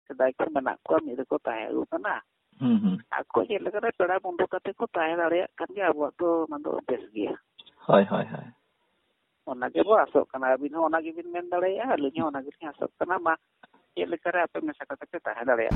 ᱥᱮᱫᱟᱭ ᱠᱷᱚᱱ ᱢᱮᱱᱟᱜ ᱠᱚᱣᱟ ᱢᱤᱫ ᱨᱮᱠᱚ ᱛᱟᱦᱮᱸ ᱟᱹᱜᱩ ᱠᱟᱱᱟ ᱟᱠᱚ ᱪᱮᱫ ᱞᱮᱠᱟᱨᱮ ᱯᱮᱲᱟ ᱵᱚᱱᱫᱷᱩ ᱠᱟᱛᱮ ᱠᱚ ᱛᱟᱦᱮᱸ ᱫᱟᱲᱮᱭᱟᱜ ᱠᱟᱱ ᱜᱮᱭᱟ ᱟᱵᱚᱣᱟᱜ ᱫᱚ ᱚᱱᱟ ᱫᱚ ᱵᱮᱥ ᱜᱮᱭᱟ ᱦᱳᱭ ᱦᱳᱭ ᱦᱳᱭ ᱚᱱᱟ ᱜᱮᱵᱚ ᱟᱥᱚᱜ ᱠᱟᱱᱟ ᱟᱹᱵᱤᱱ ᱦᱚᱸ ᱚᱱᱟ ᱜᱮᱵᱤᱱ ᱢᱮᱱ ᱫᱟᱲᱮᱭᱟᱜᱼᱟ ᱟᱹᱞᱤᱧ ᱦᱚᱸ ᱚᱱᱟ ᱜᱮᱞᱤᱧ ᱟᱥᱚᱜ ᱠᱟᱱᱟ ᱢᱟ ᱪᱮᱫ ᱞᱮᱠᱟᱨᱮ ᱟᱯᱮ ᱢᱮᱥᱟ ᱠᱟᱛᱮ ᱯᱮ ᱛᱟᱦᱮᱸ ᱫᱟᱲᱮᱭᱟᱜ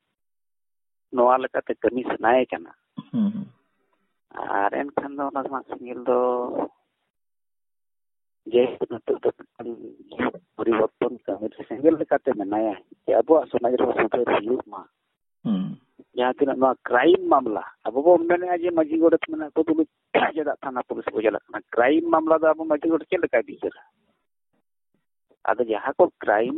ᱱᱚᱣᱟ ᱞᱮᱠᱟᱛᱮ ᱠᱟᱹᱢᱤ ᱥᱟᱱᱟᱭᱮ ᱠᱟᱱᱟ ᱟᱨ ᱮᱱᱠᱷᱟᱱ ᱫᱚ ᱚᱱᱟ ᱥᱟᱶ ᱥᱮᱸᱜᱮᱞ ᱫᱚ ᱡᱮ ᱱᱤᱛᱚᱜ ᱫᱚ ᱯᱚᱨᱤᱵᱚᱨᱛᱚᱱ ᱠᱟᱹᱢᱤ ᱨᱮ ᱥᱮᱸᱜᱮᱞ ᱞᱮᱠᱟᱛᱮ ᱢᱮᱱᱟᱭᱟ ᱡᱮ ᱟᱵᱚᱣᱟᱜ ᱥᱚᱢᱟᱡᱽ ᱨᱮ ᱥᱩᱫᱷᱟᱹᱨ ᱦᱩᱭᱩᱜ ᱢᱟ ᱡᱟᱦᱟᱸ ᱛᱤᱱᱟᱹᱜ ᱱᱚᱣᱟ ᱠᱨᱟᱭᱤᱢ ᱢᱟᱢᱞᱟ ᱟᱵᱚ ᱵᱚ ᱢᱮᱱᱮᱫᱼᱟ ᱡᱮ ᱢᱟᱹᱡᱷᱤ ᱜᱚᱰᱮᱛ ᱢᱮᱱᱟᱜ ᱠᱚ ᱛᱩᱞᱩᱡ ᱪᱮᱫᱟᱜ ᱛᱷᱟᱱᱟ ᱯᱩᱞᱤᱥ ᱠᱚ ᱪᱟᱞᱟᱜ ᱠᱟᱱᱟ ᱠᱨᱟᱭᱤᱢ ᱢᱟᱢᱞᱟ ᱫᱚ ᱟᱵᱚ ᱢᱟᱹᱡᱷᱤ ᱜᱚᱰᱮᱛ ᱪᱮᱫ ᱞᱮᱠᱟᱭ ᱵᱤᱪᱟᱹᱨᱟ ᱟᱫᱚ ᱡᱟᱦᱟᱸ ᱠᱚ ᱠᱨᱟᱭᱤᱢ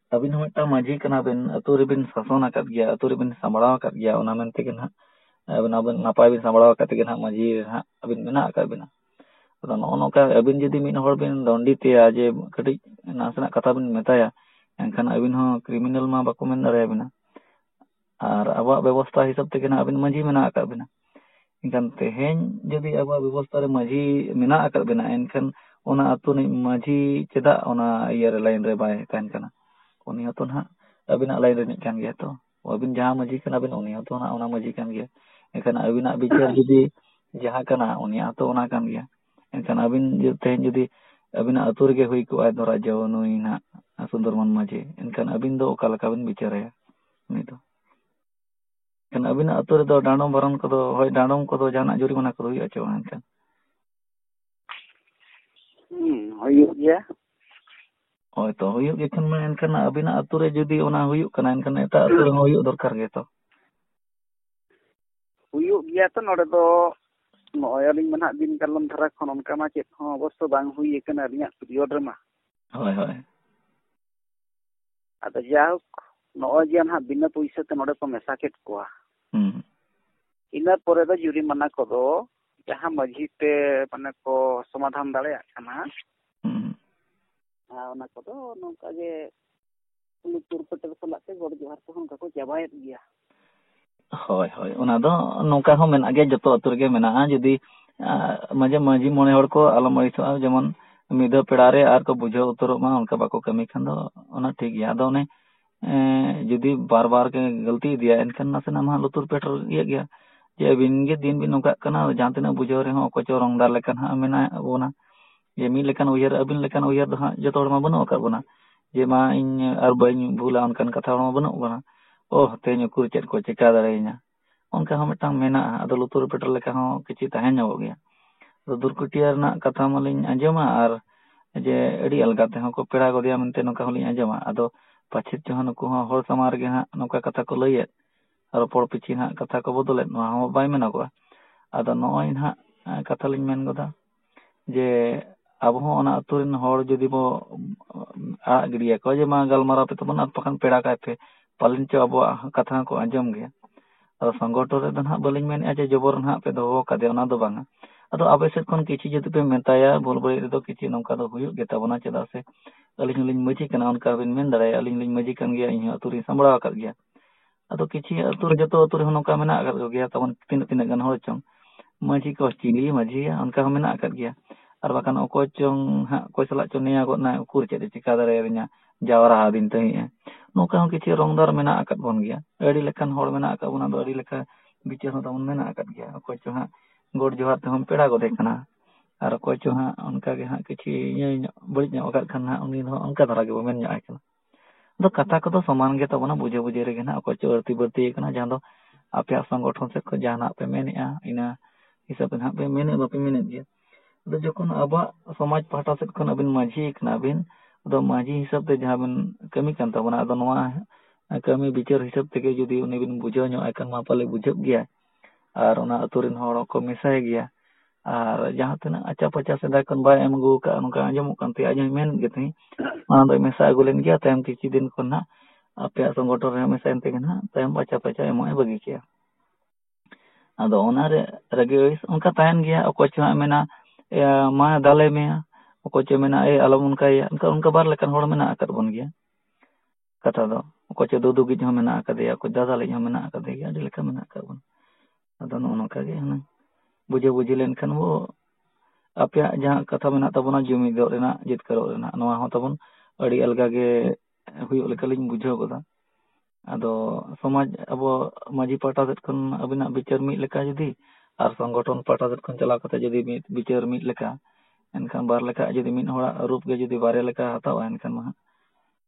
ᱟᱹᱵᱤᱱ ᱦᱚᱸ ᱢᱤᱫᱴᱟᱝ ᱢᱟᱺᱡᱷᱤ ᱠᱟᱱᱟ ᱵᱤᱱ ᱟᱹᱛᱩ ᱨᱮᱵᱤᱱ ᱥᱟᱥᱚᱱ ᱟᱠᱟᱫ ᱜᱮᱭᱟ ᱟᱹᱛᱩ ᱨᱮᱵᱤᱱ ᱥᱟᱢᱵᱽᱲᱟᱣ ᱟᱠᱟᱫ ᱜᱮᱭᱟ ᱚᱱᱟ ᱢᱮᱱ ᱛᱮᱜᱮ ᱱᱟᱦᱟᱜ ᱟᱹᱵᱤᱱ ᱟᱹᱵᱤᱱ ᱱᱟᱯᱟᱭ ᱵᱤᱱ ᱥᱟᱢᱵᱽᱲᱟᱣ ᱟᱠᱟᱫ ᱛᱮᱜᱮ ᱱᱟᱦᱟᱜ ᱢᱟᱺᱡᱷᱤ ᱦᱟᱸᱜ ᱟᱹᱵᱤᱱ ᱢᱮᱱᱟᱜ ᱟᱠᱟᱫ ᱵᱤᱱᱟ ᱟᱫᱚ ᱱᱚᱜᱼᱚ ᱱᱚᱝᱠᱟ ᱟᱹᱵᱤᱱ ᱡᱩᱫᱤ ᱢᱤᱫ ᱦᱚᱲ ᱵᱤᱱ ᱫᱚᱱᱰᱤᱛᱮᱭᱟ ᱡᱮ ᱠᱟᱹᱴᱤᱡ ᱱᱟᱥᱮᱱᱟᱜ ᱠᱟᱛᱷᱟ ᱵᱤᱱ ᱢᱮᱛᱟᱭᱟ ᱮᱱᱠᱷᱟᱱ ᱟᱹᱵᱤᱱ ᱦᱚᱸ ᱠᱨᱤᱢᱤᱱᱟᱞ ᱢᱟ ᱵᱟᱠᱚ ᱢᱮᱱ ᱫᱟᱲᱮᱭᱟᱵᱤᱱᱟ ᱟᱨ ᱟᱵᱚᱣᱟᱜ ᱵᱮᱵᱚᱥᱛᱟ ᱦᱤᱥᱟᱹᱵ ᱛᱮᱜᱮ ᱱᱟᱦᱟᱜ ᱟᱵᱮᱱ ᱢᱟᱺᱡᱷᱤ ᱢᱮᱱᱟᱜ ᱟᱠᱟᱫ ᱵᱮᱱᱟ ᱮᱱᱠᱷᱟᱱ ᱛᱮᱦᱮᱧ ᱡᱩᱫᱤ ᱟᱵᱚᱣᱟᱜ ᱵᱮᱵᱚᱥᱛᱟ ᱨᱮ ᱢᱟᱺᱡᱷᱤ ᱢᱮᱱᱟᱜ ᱟᱠᱟᱫ ᱵᱮᱱᱟ ᱮᱱᱠᱷᱟᱱ ᱚᱱᱟ ᱟᱹᱛᱩ ᱨᱤᱱᱤᱡ ᱢᱟᱺᱡᱷᱤ ᱪᱮᱫᱟᱜ ᱚᱱᱟ ᱤᱭᱟᱹᱨᱮ ᱞᱟᱭᱤᱱ ᱨᱮ ᱵᱟᱭ ᱛᱟᱦᱮᱱ ᱠᱟᱱᱟ ᱩᱱᱤ ᱦᱚᱸᱛᱚ ᱱᱟᱦᱟᱜ ᱟᱹᱵᱤᱱᱟᱜ ᱞᱟᱭᱤᱱ ᱨᱤᱱᱤᱡ ᱠᱟᱱ ᱜᱮᱭᱟᱭ ᱛᱚ ᱟᱹᱵᱤᱱ ᱡᱟᱦᱟᱸ ᱢᱟᱺᱡᱷᱤ ᱠᱟᱱᱟ ᱵᱮᱱ ᱩᱱᱤ ᱦᱚᱸᱛᱚ ᱱᱟᱦᱟᱜ ᱚᱱᱟ ᱢᱟᱺᱡᱷᱤ ᱠᱟᱱ ᱜᱮᱭᱟᱭ ᱮᱱᱠᱷᱟᱱ ᱟᱹᱵᱤᱱᱟᱜ ᱵᱤᱪᱟᱹᱨ ᱡᱩᱫᱤ ᱡᱟᱦᱟᱸ ᱠᱟᱱᱟ ᱩᱱᱤᱭᱟᱜ ᱦᱚᱸᱛᱚ ᱚᱱᱟ ᱠᱟᱱ ᱜᱮᱭᱟ ᱮᱱᱠᱷᱟᱱ ᱟᱹᱵᱤᱱ ᱛᱮᱦᱮᱧ ᱡᱩᱫᱤ ᱟᱹᱵᱤᱱᱟᱜ ᱟᱹᱛᱩ ᱨᱮᱜᱮ ᱦᱩᱭ ᱠᱚᱜᱼᱟ ᱫᱷᱚᱨᱟ ᱡᱟᱣ ᱱᱩᱭ ᱱᱟᱦᱟᱜ ᱥᱩᱱᱫᱚᱨᱢᱚᱱ ᱢᱟᱺᱡᱷᱤ ᱮᱱᱠᱷᱟᱱ ᱟᱹᱵᱤᱱ ᱫᱚ ᱚᱠᱟ ᱞᱮᱠᱟ ᱵᱤᱱ ᱵᱤᱪᱟᱹᱨᱟᱭᱟ ᱩᱱᱤ ᱫᱚ ᱮᱱᱠᱷᱟᱱ ᱟᱹᱵᱤᱱᱟᱜ ᱟᱹᱛᱩ ᱨᱮᱫᱚ ᱰᱟᱸᱰᱚᱢ ᱵᱟᱨᱚᱱ ᱠᱚᱫᱚ ᱦᱳᱭ ᱰᱟᱸᱰᱚᱢ ᱠᱚᱫᱚ ᱡᱟᱦᱟᱱᱟᱜ ᱡᱩᱨᱤᱢᱟᱱᱟ ᱠᱚᱫᱚ ᱦᱩᱭᱩᱜᱼᱟ ᱪᱮ ᱵᱟᱝ ᱮᱱᱠᱷᱟᱱ ᱦᱩᱭᱩᱜ ᱜᱮᱭᱟ ᱦᱳᱭ ᱛᱚ ᱦᱩᱭᱩᱜ ᱜᱮᱠᱷᱟᱱ ᱢᱟ ᱮᱱᱠᱷᱟᱱ ᱟᱹᱵᱤᱱᱟᱜ ᱟᱹᱛᱩ ᱨᱮ ᱡᱩᱫᱤ ᱚᱱᱟ ᱦᱩᱭᱩᱜ ᱠᱟᱱᱟ ᱮᱱᱠᱷᱟᱱ ᱮᱴᱟᱜ ᱟᱹᱛᱩ ᱨᱮᱦᱚᱸ ᱦᱩᱭᱩᱜ ᱫᱚᱨᱠᱟᱨ ᱜᱮᱛᱚ ᱦᱩᱭᱩᱜ ᱜᱮᱭᱟ ᱛᱚ ᱱᱚᱰᱮ ᱫᱚ ᱱᱚᱜᱼᱚᱭ ᱟᱹᱞᱤᱧ ᱢᱟ ᱱᱟᱜ ᱫᱤᱱ ᱠᱟᱞᱚᱢ ᱫᱷᱟᱨᱟ ᱠᱷᱚᱱ ᱚᱱᱠᱟ ᱢᱟ ᱪᱮᱫ ᱦᱚᱸ ᱚᱵᱚᱥᱥᱚ ᱵᱟᱝ ᱦᱩᱭ ᱟᱠᱟᱱᱟ ᱟᱹᱞᱤᱧᱟᱜ ᱯᱤᱨᱤᱭᱚᱰ ᱨᱮᱢᱟ ᱦᱳᱭ ᱦᱳᱭ ᱟᱫᱚ ᱡᱟᱭᱦᱳᱠ ᱱᱚᱜᱼᱚᱭ ᱡᱮ ᱱᱟᱦᱟᱜ ᱵᱤᱱᱟᱹ ᱯᱩᱭᱥᱟᱹ ᱛᱮ ᱱᱚᱰᱮ ᱠᱚ ᱢᱮᱥᱟ ᱠᱮᱫ ᱠᱚᱣᱟ ᱤᱱᱟᱹ ᱯᱚᱨᱮ ᱫᱚ ᱡᱩᱨᱤᱢᱟᱱᱟ ᱠᱚᱫᱚ ᱡᱟᱦᱟᱸ ᱢᱟᱺᱡᱷᱤ ᱛᱮ ᱢᱟᱱᱮ ᱠᱚ ᱥᱚᱢᱟᱫᱷᱟᱱ ᱫᱟᱲᱮᱭᱟᱜ ᱠᱟᱱᱟ ᱟᱨ ᱚᱱᱟ ᱠᱚᱫᱚ ᱱᱚᱝᱠᱟ ᱜᱮ ᱩᱱᱤ ᱛᱩᱨ ᱯᱮᱴᱮᱨ ᱥᱟᱞᱟᱜ ᱛᱮ ᱜᱚᱰ ᱡᱚᱦᱟᱨ ᱠᱚᱦᱚᱸ ᱚᱱᱠᱟ ᱠᱚ ᱪᱟᱵᱟᱭᱮᱫ ᱜᱮᱭᱟ ᱦᱳᱭ ᱦᱳᱭ ᱚᱱᱟ ᱫᱚ ᱱᱚᱝᱠᱟ ᱦᱚᱸ ᱢᱮᱱᱟᱜ ᱜᱮᱭᱟ ᱡᱚᱛᱚ ᱟᱹᱛᱩ ᱨᱮᱜᱮ ᱢᱮᱱᱟᱜᱼᱟ ᱡᱩᱫᱤ ᱢᱟᱡᱷᱮ ᱢᱟᱹᱡᱷᱤ ᱢᱚᱬᱮ ᱦᱚᱲ ᱠᱚ ᱟᱞᱚᱢ ᱟᱹᱲᱤᱥᱚᱜᱼᱟ ᱡᱮᱢᱚᱱ ᱢᱤᱫ ᱫᱷᱟᱣ ᱯᱮᱲᱟ ᱨᱮ ᱟᱨ ᱠᱚ ᱵᱩᱡᱷᱟᱹᱣ ᱩᱛᱟᱹᱨᱚᱜ ᱢᱟ ᱚᱱᱠᱟ ᱵᱟᱠᱚ ᱠᱟᱹᱢᱤ ᱠᱷᱟᱱ ᱫᱚ ᱚᱱᱟ ᱴᱷᱤᱠ ᱜᱮᱭᱟ ᱟᱫᱚ ᱚᱱᱮ ᱡᱩᱫᱤ ᱵᱟᱨ ᱵᱟᱨ ᱜᱮ ᱜᱟᱹᱞᱛᱤ ᱤᱫᱤᱭᱟᱭ ᱮᱱᱠᱷᱟᱱ ᱱᱟᱥᱮᱱᱟᱜ ᱢᱟ ᱞᱩᱛᱩᱨ ᱯᱮᱴᱮᱨ ᱤᱭᱟᱹᱜ ᱜᱮᱭᱟ ᱡᱮ ᱟᱹᱵᱤᱱ ᱜᱮ ᱫᱤᱱ ᱵᱤᱱ ᱱᱚᱝᱠᱟᱜ ᱠᱟᱱᱟ ᱡᱟᱦᱟᱸ ᱛᱤᱱᱟᱹᱜ ᱵᱩᱡᱷᱟᱹᱣ ᱨᱮᱦᱚᱸ ᱚᱠᱚᱭ ᱪᱚ ᱨᱚᱝ ᱫᱟᱨ ᱞᱮᱠᱟ ᱦᱟᱸᱜ ᱢᱮᱱᱟᱜ ᱵᱚᱱᱟ ᱡᱮ ᱢᱤᱫ ᱞᱮᱠᱟᱱ ᱩᱭᱦᱟᱹᱨ ᱟᱹᱵᱤᱱ ᱞᱮᱠᱟᱱ ᱩᱭᱦᱟᱹᱨ ᱫᱚ ᱦᱟᱸᱜ ᱡᱚᱛᱚ ᱦᱚᱲ ᱢᱟ ᱵᱟᱹᱱᱩᱜ ᱟᱠᱟᱫ ᱵᱚᱱᱟ ᱡᱮ ᱢᱟ ᱤᱧ ᱟᱨ ᱵᱟᱹᱧ ᱵᱷᱩᱞᱟ ᱚᱱᱠᱟᱱ ᱠᱟᱛᱷᱟ ᱦᱚᱲ ᱢᱟ ᱵᱟᱹᱱᱩᱜ ᱵᱚᱱᱟ ᱚ ᱛᱮᱦᱮᱧ ᱩᱠᱩᱨ ᱪᱮᱫ ᱠᱚ ᱪᱮᱠᱟ ᱫᱟᱲᱮᱭᱟᱹᱧᱟ ᱚᱱᱠᱟ ᱦᱚᱸ ᱢᱤᱫᱴᱟᱝ ᱢᱮᱱᱟᱜᱼᱟ ᱟᱫᱚ ᱞᱩᱛᱩᱨ ᱯᱮᱴᱮᱨ ᱞᱮᱠᱟ ᱦᱚᱸ ᱠᱤᱪᱷᱩ ᱛᱟᱦᱮᱸ ᱧᱚᱜᱚᱜ ᱜᱮᱭᱟ ᱟᱫᱚ ᱫᱩᱨᱠᱩᱴᱤᱭᱟ ᱨᱮᱱᱟᱜ ᱠᱟᱛᱷᱟ ᱢᱟᱞᱤᱧ ᱟᱸᱡᱚᱢᱟ ᱟᱨ ᱡᱮ ᱟᱹᱰᱤ ᱟᱞᱜᱟ ᱛᱮᱦᱚᱸ ᱠᱚ ᱯᱮᱲᱟ ᱜᱚᱫᱮᱭᱟ ᱢᱮᱱᱛᱮ ᱱᱚᱝᱠᱟ ᱦᱚᱸᱞᱤᱧ ᱟᱸᱡᱚᱢᱟ ᱟᱫᱚ ᱯᱟᱪᱷᱮᱫ ᱪᱚ ᱱᱩᱠᱩ ᱦᱚᱸ ᱦᱚᱲ ᱥᱟᱢᱟᱝ ᱨᱮᱜᱮ ᱦᱟᱸᱜ ᱱᱚᱝᱠᱟ ᱠᱟᱛᱷᱟ ᱠᱚ ᱞᱟᱹᱭᱮᱫ ᱨᱚᱯᱚᱲ ᱯᱤᱪᱷᱤ ᱦᱟᱸᱜ ᱠᱟᱛᱷᱟ ᱠᱚ ᱵᱚᱫᱚᱞᱮᱫ ᱱᱚᱣᱟ ᱦᱚᱸ ᱵᱟᱭ ᱢᱮᱱᱚᱜᱚᱜᱼᱟ ᱟᱫᱚ ᱱᱚᱜᱼᱚᱭ ᱱᱟᱦᱟᱜ ᱠᱟᱛᱷᱟ ᱞᱤᱧ ᱢᱮᱱ ᱜᱚᱫᱟ ᱡᱮ ᱟᱵᱚ ᱦᱚᱸ ᱚᱱᱟ ᱟᱹᱛᱩ ᱨᱮᱱ ᱦᱚᱲ ᱡᱩᱫᱤ ᱵᱚ ᱟᱲᱟᱜ ᱜᱤᱰᱤᱭᱟᱠᱚᱣᱟ ᱡᱮ ᱢᱟ ᱜᱟᱞᱢᱟᱨᱟᱣ ᱯᱮ ᱛᱟᱵᱚᱱ ᱟᱨ ᱵᱟᱠᱷᱟᱱ ᱯᱮᱲᱟ ᱠᱟᱭ ᱯᱮ ᱯᱟᱞᱮᱱ ᱪᱚ ᱟᱵᱚᱣᱟᱜ ᱠᱟᱛᱷᱟ ᱦᱚᱸᱠᱚ ᱟᱸᱡᱚᱢ ᱜᱮᱭᱟ ᱟᱫᱚ ᱥᱚᱝᱜᱚᱴᱷᱚᱱ ᱨᱮᱫᱚ ᱦᱟᱸᱜ ᱵᱟᱹᱞᱤᱧ ᱢᱮᱱᱮᱫᱼᱟ ᱡᱮ ᱡᱚᱵᱚᱨ ᱦᱟᱸᱜ ᱯᱮ ᱫᱚᱦᱚ ᱟᱠᱟᱫᱮᱭᱟ ᱚᱱᱟ ᱫᱚ ᱵᱟᱝᱟ ᱟᱫᱚ ᱟᱯᱮ ᱥᱮᱫ ᱠᱷᱚᱱ ᱠᱤᱪᱷᱩ ᱡᱩᱫᱤ ᱯᱮ ᱢᱮᱛᱟᱭᱟ ᱵᱷᱩᱞ ᱵᱟᱹᱲᱤᱡ ᱨᱮᱫᱚ ᱠᱤᱪᱷᱩ ᱱᱚᱝᱠᱟ ᱫᱚ ᱦᱩᱭᱩᱜ ᱜᱮᱛᱟ ᱵᱚᱱᱟ ᱪᱮᱫᱟᱜ ᱥᱮ ᱟᱹᱞᱤᱧ ᱦᱚᱸᱞᱤᱧ ᱢᱟᱺᱡᱷᱤ ᱠᱟᱱᱟ ᱚᱱᱠᱟ ᱵᱤᱱ ᱢᱮᱱ ᱫᱟᱲᱮᱭᱟᱜᱼᱟ ᱟᱹᱞᱤᱧ ᱦᱚᱸᱞᱤᱧ ᱢᱟᱺᱡᱷᱤ ᱠᱟᱱ ᱜᱮᱭᱟ ᱤᱧ ᱦᱚᱸ ᱟᱹᱛᱩ ᱨᱤᱧ ᱥᱟᱢᱵᱽᱲᱟᱣ ᱟᱠᱟᱫ ᱜᱮᱭᱟ ᱟᱫᱚ ᱠᱤᱪᱷᱤ ᱟᱹᱛᱩ ᱨᱮ ᱡᱚᱛᱚ ᱟᱹᱛᱩ ᱨᱮᱦᱚᱸ ᱱᱚᱝᱠᱟ ᱢᱮᱱᱟᱜ ᱟᱠᱟᱫ ᱠᱚᱜᱮᱭᱟ ᱛᱟᱵᱚᱱ ᱛᱤᱱᱟᱹᱜ ᱛᱤᱱᱟᱹᱜ ᱜᱟᱱ ᱦᱚᱲ ᱪᱚᱝ ᱢᱟᱹᱡᱷᱤ ᱠᱚ ᱪᱤᱞᱤ ᱢᱟᱹᱡᱷᱤ ᱭᱟ ᱚᱱᱠᱟ ᱦᱚᱸ ᱢᱮᱱᱟᱜ ᱟᱠᱟᱫ ᱜᱮᱭᱟ ᱟᱨ ᱵᱟᱠᱷᱟᱱ ᱚᱠᱚᱭ ᱪᱚᱝ ᱦᱟᱸᱜ ᱚᱠᱚᱭ ᱥᱟᱞᱟᱜ ᱪᱚᱝ ᱱᱮᱭᱟᱣ ᱜᱚᱫ ᱮᱱᱟᱭ ᱩᱠᱩᱨ ᱪᱮᱫ ᱮ ᱪᱤᱠᱟᱹ ᱫᱟᱲᱮ ᱟᱹᱞᱤᱧᱟ ᱡᱟᱣᱨᱟ ᱟᱹᱫᱤᱧ ᱛᱟᱦᱮᱸᱫ ᱮ ᱱᱚᱝᱠᱟ ᱦᱚᱸ ᱠᱤᱪᱷᱩ ᱨᱚᱝ ᱫᱟᱨ ᱢᱮᱱᱟᱜ ᱟᱠᱟᱫ ᱵᱚᱱ ᱜᱮᱭᱟ ᱟᱹᱰᱤ ᱞᱮᱠᱟᱱ ᱦᱚᱲ ᱢᱮᱱᱟᱜ ᱟᱠᱟᱫ ᱵᱚᱱᱟ ᱟᱫᱚ ᱟᱹᱰᱤ ᱞᱮᱠᱟ ᱵᱤᱪᱟᱹᱨ ᱦᱚᱸ ᱛᱟᱵᱚᱱ ᱢᱮᱱᱟᱜ ᱟᱠᱟᱫ ᱜᱮᱭᱟ ᱚᱠᱚᱭ ᱪᱚᱝ ᱦᱟᱸᱜ ᱜᱚᱰ ᱡᱚᱦᱟᱨ ᱛᱮᱦᱚᱸᱢ ᱯᱮᱲᱟ ᱜᱚᱫᱮ ᱠᱟᱱᱟ ᱟᱨ ᱚᱠᱚᱭ ᱪᱚᱝ ᱦᱟᱸᱜ ᱚᱱᱠᱟ ᱜᱮ ᱦᱟᱸᱜ ᱠᱤᱪᱷᱤ ᱤᱭᱟᱹ ᱧᱚᱜ ᱵᱟᱹᱲᱤᱡ ᱧᱚᱜ ᱟᱠᱟᱫ ᱠᱷᱟᱱ ᱦᱟᱸᱜ ᱩᱱᱤ ᱫᱚ ᱚᱱᱠᱟ ᱫᱷᱟᱨᱟ ᱜᱮᱵᱚᱱ ᱢᱮᱱ ᱧᱚᱜ ᱟᱭ ᱠᱟᱱᱟ ᱟᱫᱚ ᱠᱟᱛᱷᱟ ᱠᱚᱫᱚ ᱥᱚᱢᱟᱱ ᱜᱮᱛᱟ ᱵᱚᱱᱟ ᱵᱩᱡᱷᱟᱹ ᱵᱩᱡᱷᱤ ᱨᱮᱜᱮ ᱱᱟᱜ ᱚᱠᱚᱭ ᱪᱚ ᱟᱹᱲᱛᱤ ᱵᱟᱹᱲᱛᱤ ᱟᱠᱟᱱᱟ ᱡᱟᱦᱟᱸ ᱫᱚ ᱟᱯᱮᱭᱟᱜ ᱥᱚᱝᱜᱚᱴᱷᱚᱱ ᱥᱮᱫ ᱠᱷᱚᱱ ᱡᱟᱦᱟᱱᱟᱜ ᱯᱮ ᱢᱮᱱᱮᱫᱼᱟ ᱤᱱᱟᱹ ᱦᱤᱥᱟᱹᱵ ᱛᱮ ᱱᱟᱜ ᱯᱮ ᱢᱮᱱᱮᱫ ᱵᱟᱯᱮ ᱢᱮᱱᱮᱫ ᱜᱮᱭᱟ ᱟᱫᱚ ᱡᱚᱠᱷᱚᱱ ᱟᱵᱚᱣᱟᱜ ᱥᱚᱢᱟᱡᱽ ᱯᱟᱦᱴᱟ ᱥᱮᱫ ᱠᱷᱚᱱ ᱟᱹᱵᱤᱱ ᱢᱟᱹᱡᱷᱤ ᱠᱟᱱᱟ ᱵᱤᱱ ᱟᱫᱚ ᱢᱟᱹᱡᱷᱤ ᱦᱤᱥᱟᱹᱵ ᱛᱮ ᱡᱟᱦᱟᱸ ᱵᱤᱱ ᱠᱟᱹᱢᱤ ᱠᱟᱱ ᱛᱟᱵᱚᱱᱟ ᱟᱫᱚ ᱱᱚᱣᱟ ᱠᱟᱹᱢᱤ ᱵᱤᱪᱟᱹᱨ ᱦᱤᱥᱟᱹᱵ ᱛᱮᱜᱮ ᱡᱩᱫᱤ ᱩᱱᱤ ᱵᱤᱱ ᱵᱩᱡᱷᱟᱹᱣ ᱧᱚᱜ ᱟᱭ ᱠᱷᱟᱱ ᱢᱟ ᱯᱟᱞᱮ ᱵᱩᱡᱷᱟᱹᱜ ᱜᱮᱭᱟᱭ ᱟᱨ ᱚᱱᱟ ᱟᱹᱛᱩ ᱨᱮᱱ ᱦᱚᱲ ᱦᱚᱸᱠᱚ ᱢᱮᱥᱟᱭ ᱜᱮᱭᱟ ᱟᱨ ᱡᱟᱦᱟᱸ ᱛᱤᱱᱟᱹᱜ ᱟᱪᱟ ᱯᱟᱪᱟ ᱥᱮᱫᱟᱭ ᱠᱷᱚᱱ ᱵᱟᱭ ᱮᱢ ᱟᱹᱜᱩ ᱟᱠᱟᱫ ᱱᱚᱝᱠᱟ ᱟᱸᱡᱚᱢᱚᱜ ᱠᱟᱱ ᱛᱟᱦᱮᱸᱫ ᱟᱡ ᱦᱚᱸᱭ ᱢᱮᱱ ᱜᱮ ᱛᱟᱦᱮᱸᱫ ᱚᱱᱟ ᱫᱚᱭ ᱢᱮᱥᱟ ᱟᱹᱜᱩ ᱞᱮᱱ ᱜᱮᱭᱟ ᱛᱟᱭᱚᱢ ᱠᱤᱪᱷᱩ ᱫᱤᱱ ᱠᱷᱚᱱ ᱦᱟᱸᱜ ᱟᱯᱮᱭᱟᱜ ᱥᱚᱝᱜᱚᱴᱷᱚᱱ ᱨᱮ ᱢᱮᱥᱟᱭᱮᱱ ᱛᱮᱜᱮ ᱦᱟᱸᱜ ᱛᱟᱭᱚᱢ ᱟᱪᱟ ᱯᱟᱪᱟ ᱮᱢᱚᱜ ᱮ ᱵᱟᱹᱜᱤ ᱠᱮᱜᱼᱟ ᱟᱫᱚ ᱚᱱᱟᱨᱮ ᱨᱟᱹᱜᱤ ᱟᱹᱲᱤᱥ ᱚᱱᱠᱟ ᱛᱟᱦᱮᱱ ᱜᱮᱭᱟ ᱚᱠᱚᱭ ᱪᱚ ᱦᱟᱸᱜ ᱢᱮᱱᱟ ᱢᱟ ᱫᱟᱞᱮ ᱢᱮᱭᱟ ᱚᱠᱚᱭ ᱪᱚᱭ ᱢᱮᱱᱟ ᱮᱭ ᱟᱞᱚᱢ ᱚᱱᱠᱟᱭᱮᱭᱟ ᱚᱱᱠᱟ ᱵᱟᱨ ᱞᱮᱠᱟᱱ ᱦᱚᱲ ᱢᱮᱱᱟᱜ ᱟᱠᱟᱫ ᱵᱚᱱ ᱜᱮᱭᱟ ᱠᱟᱛᱷᱟ ᱫᱚ ᱚᱠᱚᱭ ᱪᱚ ᱫᱩᱫᱩᱜᱤᱡ ᱦᱚᱸ ᱢᱮᱱᱟᱜ ᱟᱠᱟᱫᱮᱭᱟ ᱚᱠᱚᱭ ᱫᱟᱫᱟᱞᱤᱡ ᱦᱚᱸ ᱢᱮᱱᱟᱜ ᱟᱠᱟᱫᱮᱭᱟ ᱟᱹᱰᱤ ᱞᱮᱠᱟ ᱢᱮᱱᱟᱜ ᱟᱠᱟᱫ ᱵᱚᱱᱟ ᱟᱫᱚ ᱱᱚᱜᱼᱚ ᱱᱚᱝᱠᱟ ᱜᱮ ᱦᱩᱱᱟᱹᱝ ᱵᱩᱡᱷᱟᱹ ᱵᱩᱡᱷᱤ ᱞᱮᱱᱠᱷᱟᱱ ᱵᱚ ᱟᱯᱮᱭᱟᱜ ᱡᱟᱦᱟᱸ ᱠᱟᱛᱷᱟ ᱢᱮᱱᱟᱜ ᱛᱟᱵᱚᱱᱟ ᱡᱩᱢᱤᱫᱚᱜ ᱨᱮᱱᱟᱜ ᱡᱤᱛᱠᱟᱹᱨᱚᱜ ᱨᱮᱱᱟᱜ ᱱᱚᱣᱟ ᱦᱚᱸ ᱛᱟᱵᱚᱱ ᱟᱹᱰᱤ ᱟᱞᱜᱟ ᱜᱮ ᱦᱩᱭᱩᱜ ᱞᱮᱠᱟᱞᱤᱧ ᱵᱩᱡᱷᱟᱹᱣ ᱜᱚᱫᱟ ᱟᱫᱚ ᱥᱚᱢᱟᱡᱽ ᱟᱵᱚ ᱢᱟᱺᱡᱷᱤ ᱯᱟᱦᱴᱟ ᱥᱮᱫ ᱠᱷᱚᱱ ᱟᱹᱵᱤᱱᱟᱜ ᱵᱤᱪᱟᱹᱨ ᱢᱤᱫ ᱞᱮᱠᱟ ᱡᱩᱫᱤ ᱟᱨ ᱥᱚᱝᱜᱚᱴᱷᱚᱱ ᱯᱟᱦᱴᱟ ᱥᱮᱫ ᱠᱷᱚᱱ ᱪᱟᱞᱟᱣ ᱠᱟᱛᱮ ᱡᱩᱫᱤ ᱢᱤᱫ ᱵᱤᱪᱟᱹᱨ ᱢᱤᱫ ᱞᱮᱠᱟ ᱮᱱᱠᱷᱟᱱ ᱵᱟᱨ ᱞᱮᱠᱟ ᱡᱩᱫᱤ ᱢᱤᱫ ᱦᱚᱲᱟᱜ ᱨᱩᱯ ᱜᱮ ᱡᱩᱫᱤ ᱵᱟᱨᱭᱟ ᱞᱮᱠᱟ ᱦᱟᱛᱟᱣᱟ ᱮᱱᱠᱷᱟᱱ ᱢᱟ ᱦᱟᱸᱜ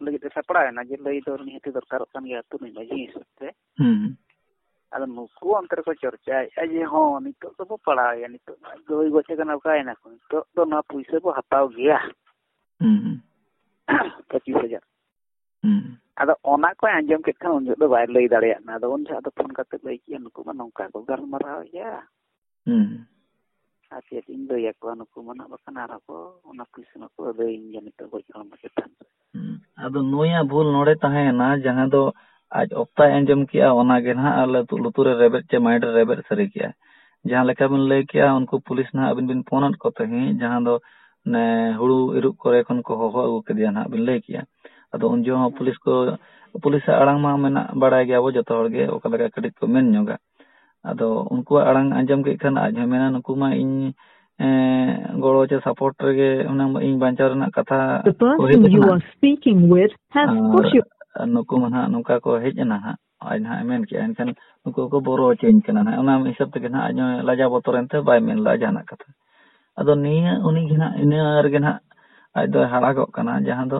ᱞᱟᱹᱜᱤᱫ ᱛᱮ ᱥᱟᱯᱲᱟᱣ ᱮᱱᱟ ᱡᱮ ᱞᱟᱹᱭ ᱫᱚ ᱱᱤᱦᱟᱹᱛ ᱫᱚᱨᱠᱟᱨᱚᱜ ᱠᱟᱱ ᱜᱮᱭᱟ ᱟᱹᱛᱩ ᱨᱤᱱᱤᱡ ᱢᱟᱺᱡᱷᱤ ᱦᱤᱥᱟᱹᱵ ᱛᱮ ᱟᱫᱚ ᱱᱩᱠᱩ ᱚᱱᱛᱮ ᱨᱮᱠᱚ ᱪᱚᱨᱪᱟᱭᱮᱫᱼᱟ ᱡᱮ ᱦᱚᱸ ᱱᱤᱛᱚᱜ ᱫᱚᱵᱚ ᱯᱟᱲᱟᱣᱮᱭᱟ ᱱᱤᱛᱚᱜ ᱫᱚᱭ ᱜᱚᱪᱮ ᱠᱟᱱᱟ ᱚᱠᱟᱭᱮᱱᱟ ᱠᱚ ᱱᱤᱛᱚᱜ ᱫᱚ ᱱᱚᱣᱟ ᱯᱩᱭᱥᱟᱹ ᱵᱚ ᱦᱟᱛᱟᱣ ᱜᱮᱭᱟ ᱯᱚᱸᱪᱤᱥ ᱦᱟᱡᱟᱨ ᱟᱫᱚ ᱚᱱᱟ ᱠᱚᱭ ᱟᱸᱡᱚᱢ ᱠᱮᱫ ᱠᱷᱟᱱ ᱩᱱ ᱡᱚᱦᱚᱜ ᱫᱚ ᱵᱟᱭ ᱞᱟᱹᱭ ᱫᱟᱲᱮᱭᱟᱜ ᱠᱟᱱᱟ ᱟᱫᱚ ᱩᱱ ᱡᱚᱦᱚᱜ ᱫᱚ ᱯᱷᱳᱱ ᱠᱟᱛᱮ ᱞᱟᱹᱭ ᱠᱮᱫᱼᱟ ᱱᱩᱠᱩ ᱢᱟ ᱱᱚᱝᱠᱟ ᱠᱚ ᱜᱟᱞᱢᱟᱨᱟᱣᱮᱫᱼᱟ ᱦᱩᱸ ᱟᱨ ᱪᱮᱫ ᱤᱧ ᱞᱟᱹᱭ ᱟᱠᱚᱣᱟ ᱱᱩᱠᱩ ᱢᱟ ᱱᱟᱜ ᱵᱟᱠᱷᱟᱱ ᱟᱨᱦᱚᱸ ᱠᱚ ᱚᱱᱟ ᱯᱩᱞᱤᱥ ᱢᱟᱠᱚ ᱟᱹᱫᱟᱹᱭᱤᱧ ᱜᱮᱭᱟ ᱱᱤᱛᱚᱜ ᱜᱚᱡ ᱦᱚᱲᱢᱚ ᱪᱮᱛᱟᱱ ᱨᱮ ᱟᱫᱚ ᱱᱩᱭᱟᱜ ᱵᱷᱩᱞ ᱱᱚᱰᱮ ᱛᱟᱦᱮᱸᱭᱮᱱᱟ ᱡᱟᱦᱟᱸ ᱫᱚ ᱟᱡ ᱚᱠᱛᱟᱭ ᱟᱸᱡᱚᱢ ᱠᱮᱜᱼᱟ ᱚᱱᱟᱜᱮ ᱱᱟᱦᱟᱜ ᱟᱞᱮ ᱞᱩᱛᱩᱨ ᱨᱮ ᱨᱮᱵᱮᱫ ᱪᱮ ᱢᱟᱭᱤᱱᱰ ᱨᱮ ᱨᱮᱵᱮᱫ ᱥᱟᱹᱨᱤ ᱠᱮᱜᱼᱟ ᱡᱟᱦᱟᱸ ᱞᱮᱠᱟ ᱵᱤᱱ ᱞᱟᱹᱭ ᱠᱮᱜᱼᱟ ᱩᱱᱠᱩ ᱯᱩᱞᱤᱥ ᱱᱟᱦᱟᱜ ᱟᱹᱵᱤᱱ ᱵᱤᱱ ᱯᱷᱳᱱ ᱟᱫ ᱠᱚ ᱛᱟᱦᱮᱸᱫ ᱡᱟᱦᱟᱸ ᱫᱚ ᱚᱱᱮ ᱦᱩᱲᱩ ᱤᱨᱚᱜ ᱠᱚᱨᱮ ᱠᱷᱚᱱ ᱠᱚ ᱦᱚᱦᱚ ᱟᱹᱜᱩ ᱠᱮᱫᱮᱭᱟ ᱱᱟᱦᱟᱜ ᱵᱤᱱ ᱞᱟᱹᱭ ᱠᱮᱜᱼᱟ ᱟᱫᱚ ᱩᱱ ᱡᱚᱦᱚᱜ ᱦᱚᱸ ᱯᱩᱞᱤᱥ ᱠᱚ ᱯᱩᱞᱤᱥᱟᱜ ᱟᱲᱟᱝ ᱢᱟ ᱢᱮᱱᱟᱜ ᱵᱟᱲᱟᱭ ᱜᱮᱭᱟ ᱵᱚ ᱡᱚᱛᱚ ᱦᱚᱲ ᱜᱮ ᱚᱠᱟ ᱞᱮᱠᱟ ᱠᱟᱹᱴᱤᱡ ᱠᱚ ᱢᱮᱱ ᱧᱚᱜᱟ ᱟᱫᱚ ᱩᱱᱠᱩᱣᱟᱜ ᱟᱲᱟᱝ ᱟᱸᱡᱚᱢ ᱠᱮᱫ ᱠᱷᱟᱱ ᱟᱡ ᱦᱚᱸᱭ ᱢᱮᱱᱟ ᱱᱩᱠᱩ ᱢᱟ ᱤᱧ ᱜᱚᱲᱚ ᱪᱮ ᱥᱟᱯᱳᱨᱴ ᱨᱮᱜᱮ ᱦᱩᱱᱟᱹᱝ ᱤᱧ ᱵᱟᱧᱪᱟᱣ ᱨᱮᱱᱟᱜ ᱠᱟᱛᱷᱟ ᱠᱚ ᱦᱮᱡ ᱟᱠᱟᱱᱟ ᱱᱩᱠᱩ ᱢᱟ ᱱᱟᱦᱟᱜ ᱱᱚᱝᱠᱟ ᱠᱚ ᱦᱮᱡ ᱮᱱᱟ ᱱᱟᱦᱟᱜ ᱟᱡ ᱱᱟᱦᱟᱜ ᱢᱮᱱ ᱠᱮᱜᱼᱟ ᱮᱱᱠᱷᱟᱱ ᱱᱩᱠᱩ ᱠᱚ ᱵᱚᱨᱚ ᱦᱚᱪᱚᱧ ᱠᱟᱱᱟ ᱱᱟᱦᱟᱜ ᱚᱱᱟ ᱦᱤᱥᱟᱹᱵ ᱛᱮᱜᱮ ᱱᱟᱦᱟᱜ ᱟᱡ ᱦᱚᱸ ᱞᱟᱡᱟ ᱵᱚᱛᱚᱨ ᱮᱱᱛᱮ ᱵᱟᱭ ᱢᱮᱱ ᱞᱮᱫᱟ ᱡᱟᱦᱟᱱᱟᱜ ᱠᱟᱛᱷᱟ ᱟᱫᱚ ᱱᱤᱭᱟᱹ ᱩᱱᱤ ᱜᱮ ᱱᱟᱦᱟᱜ ᱤᱱᱟᱹ ᱨᱮᱜᱮ ᱱᱟᱦᱟᱜ ᱟᱡ ᱫᱚᱭ ᱦᱟᱨᱟᱜᱚᱜ ᱠᱟᱱᱟ ᱡᱟᱦᱟᱸ ᱫᱚ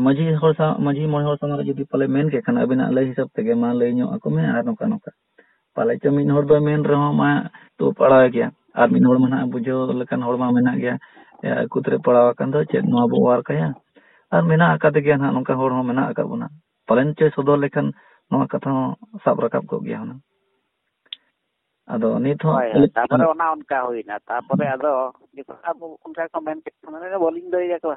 ᱢᱟᱺᱡᱷᱤ ᱦᱚᱲ ᱥᱟᱶ ᱢᱟᱺᱡᱷᱤ ᱢᱚᱬᱮ ᱦᱚᱲ ᱥᱟᱢᱟᱝ ᱨᱮ ᱡᱩᱫᱤ ᱯᱟᱞᱮ ᱢᱮᱱ ᱠᱮᱫ ᱠᱷᱟᱱ ᱟᱵᱤᱱᱟᱜ ᱞᱟᱹᱭ ᱦᱤᱥᱟᱹᱵ ᱛᱮᱜᱮ ᱢᱟ ᱞᱟᱹᱭ ᱧᱚᱜ ᱟᱠᱚ ᱢᱮ ᱟᱨ ᱱᱚᱝᱠᱟ ᱱᱚᱝᱠᱟ ᱯᱟᱞᱮ ᱪᱚ ᱢᱤᱫ ᱦᱚᱲ ᱫᱚ ᱢᱮᱱ ᱨᱮᱦᱚᱸ ᱢᱟ ᱛᱩ ᱯᱟᱲᱟᱣ ᱜᱮᱭᱟ ᱟᱨ ᱢᱤᱫ ᱦᱚᱲ ᱢᱟ ᱱᱟᱦᱟᱜ ᱵᱩᱡᱷᱟᱹᱣ ᱞᱮᱠᱟᱱ ᱦᱚᱲ ᱢᱟ ᱢᱮᱱᱟᱜ ᱜᱮᱭᱟ ᱟᱹᱠᱩ ᱛᱮᱨᱮ ᱯᱟᱲᱟᱣ ᱟᱠᱟᱱ ᱫᱚ ᱪᱮᱫ ᱱᱚᱣᱟ ᱵᱚ ᱚᱣᱟᱨ ᱠᱟᱭᱟ ᱟᱨ ᱢᱮᱱᱟᱜ ᱟᱠᱟᱫ ᱜᱮᱭᱟ ᱱᱟᱦᱟᱜ ᱱᱚᱝᱠᱟ ᱦᱚᱲ ᱦᱚᱸ ᱢᱮᱱᱟᱜ ᱟᱠᱟᱫ ᱵᱚᱱᱟ ᱯᱟᱞᱮᱱ ᱪᱚᱭ ᱥᱚᱫᱚᱨ ᱞᱮᱠᱷᱟᱱ ᱱᱚᱣᱟ ᱠᱟᱛᱷᱟ ᱦᱚᱸ ᱥᱟᱵ ᱨᱟᱠᱟᱵ ᱠᱚᱜ ᱜᱮᱭᱟ ᱦᱩᱱᱟᱹᱝ ᱟᱫᱚ ᱱᱤᱛ ᱦᱚᱸ ᱛᱟᱯᱚᱨᱮ ᱚᱱᱟ ᱚᱱᱠᱟ ᱦᱩᱭᱱᱟ ᱛᱟᱯᱚᱨᱮ ᱟᱫᱚ ᱟᱵᱚ ᱚᱱᱠᱟ ᱠᱚ ᱢᱮᱱ ᱠᱮᱫ ᱵᱟᱹᱞᱤᱧ ᱞᱟᱹᱭ ᱟᱠᱚᱣᱟ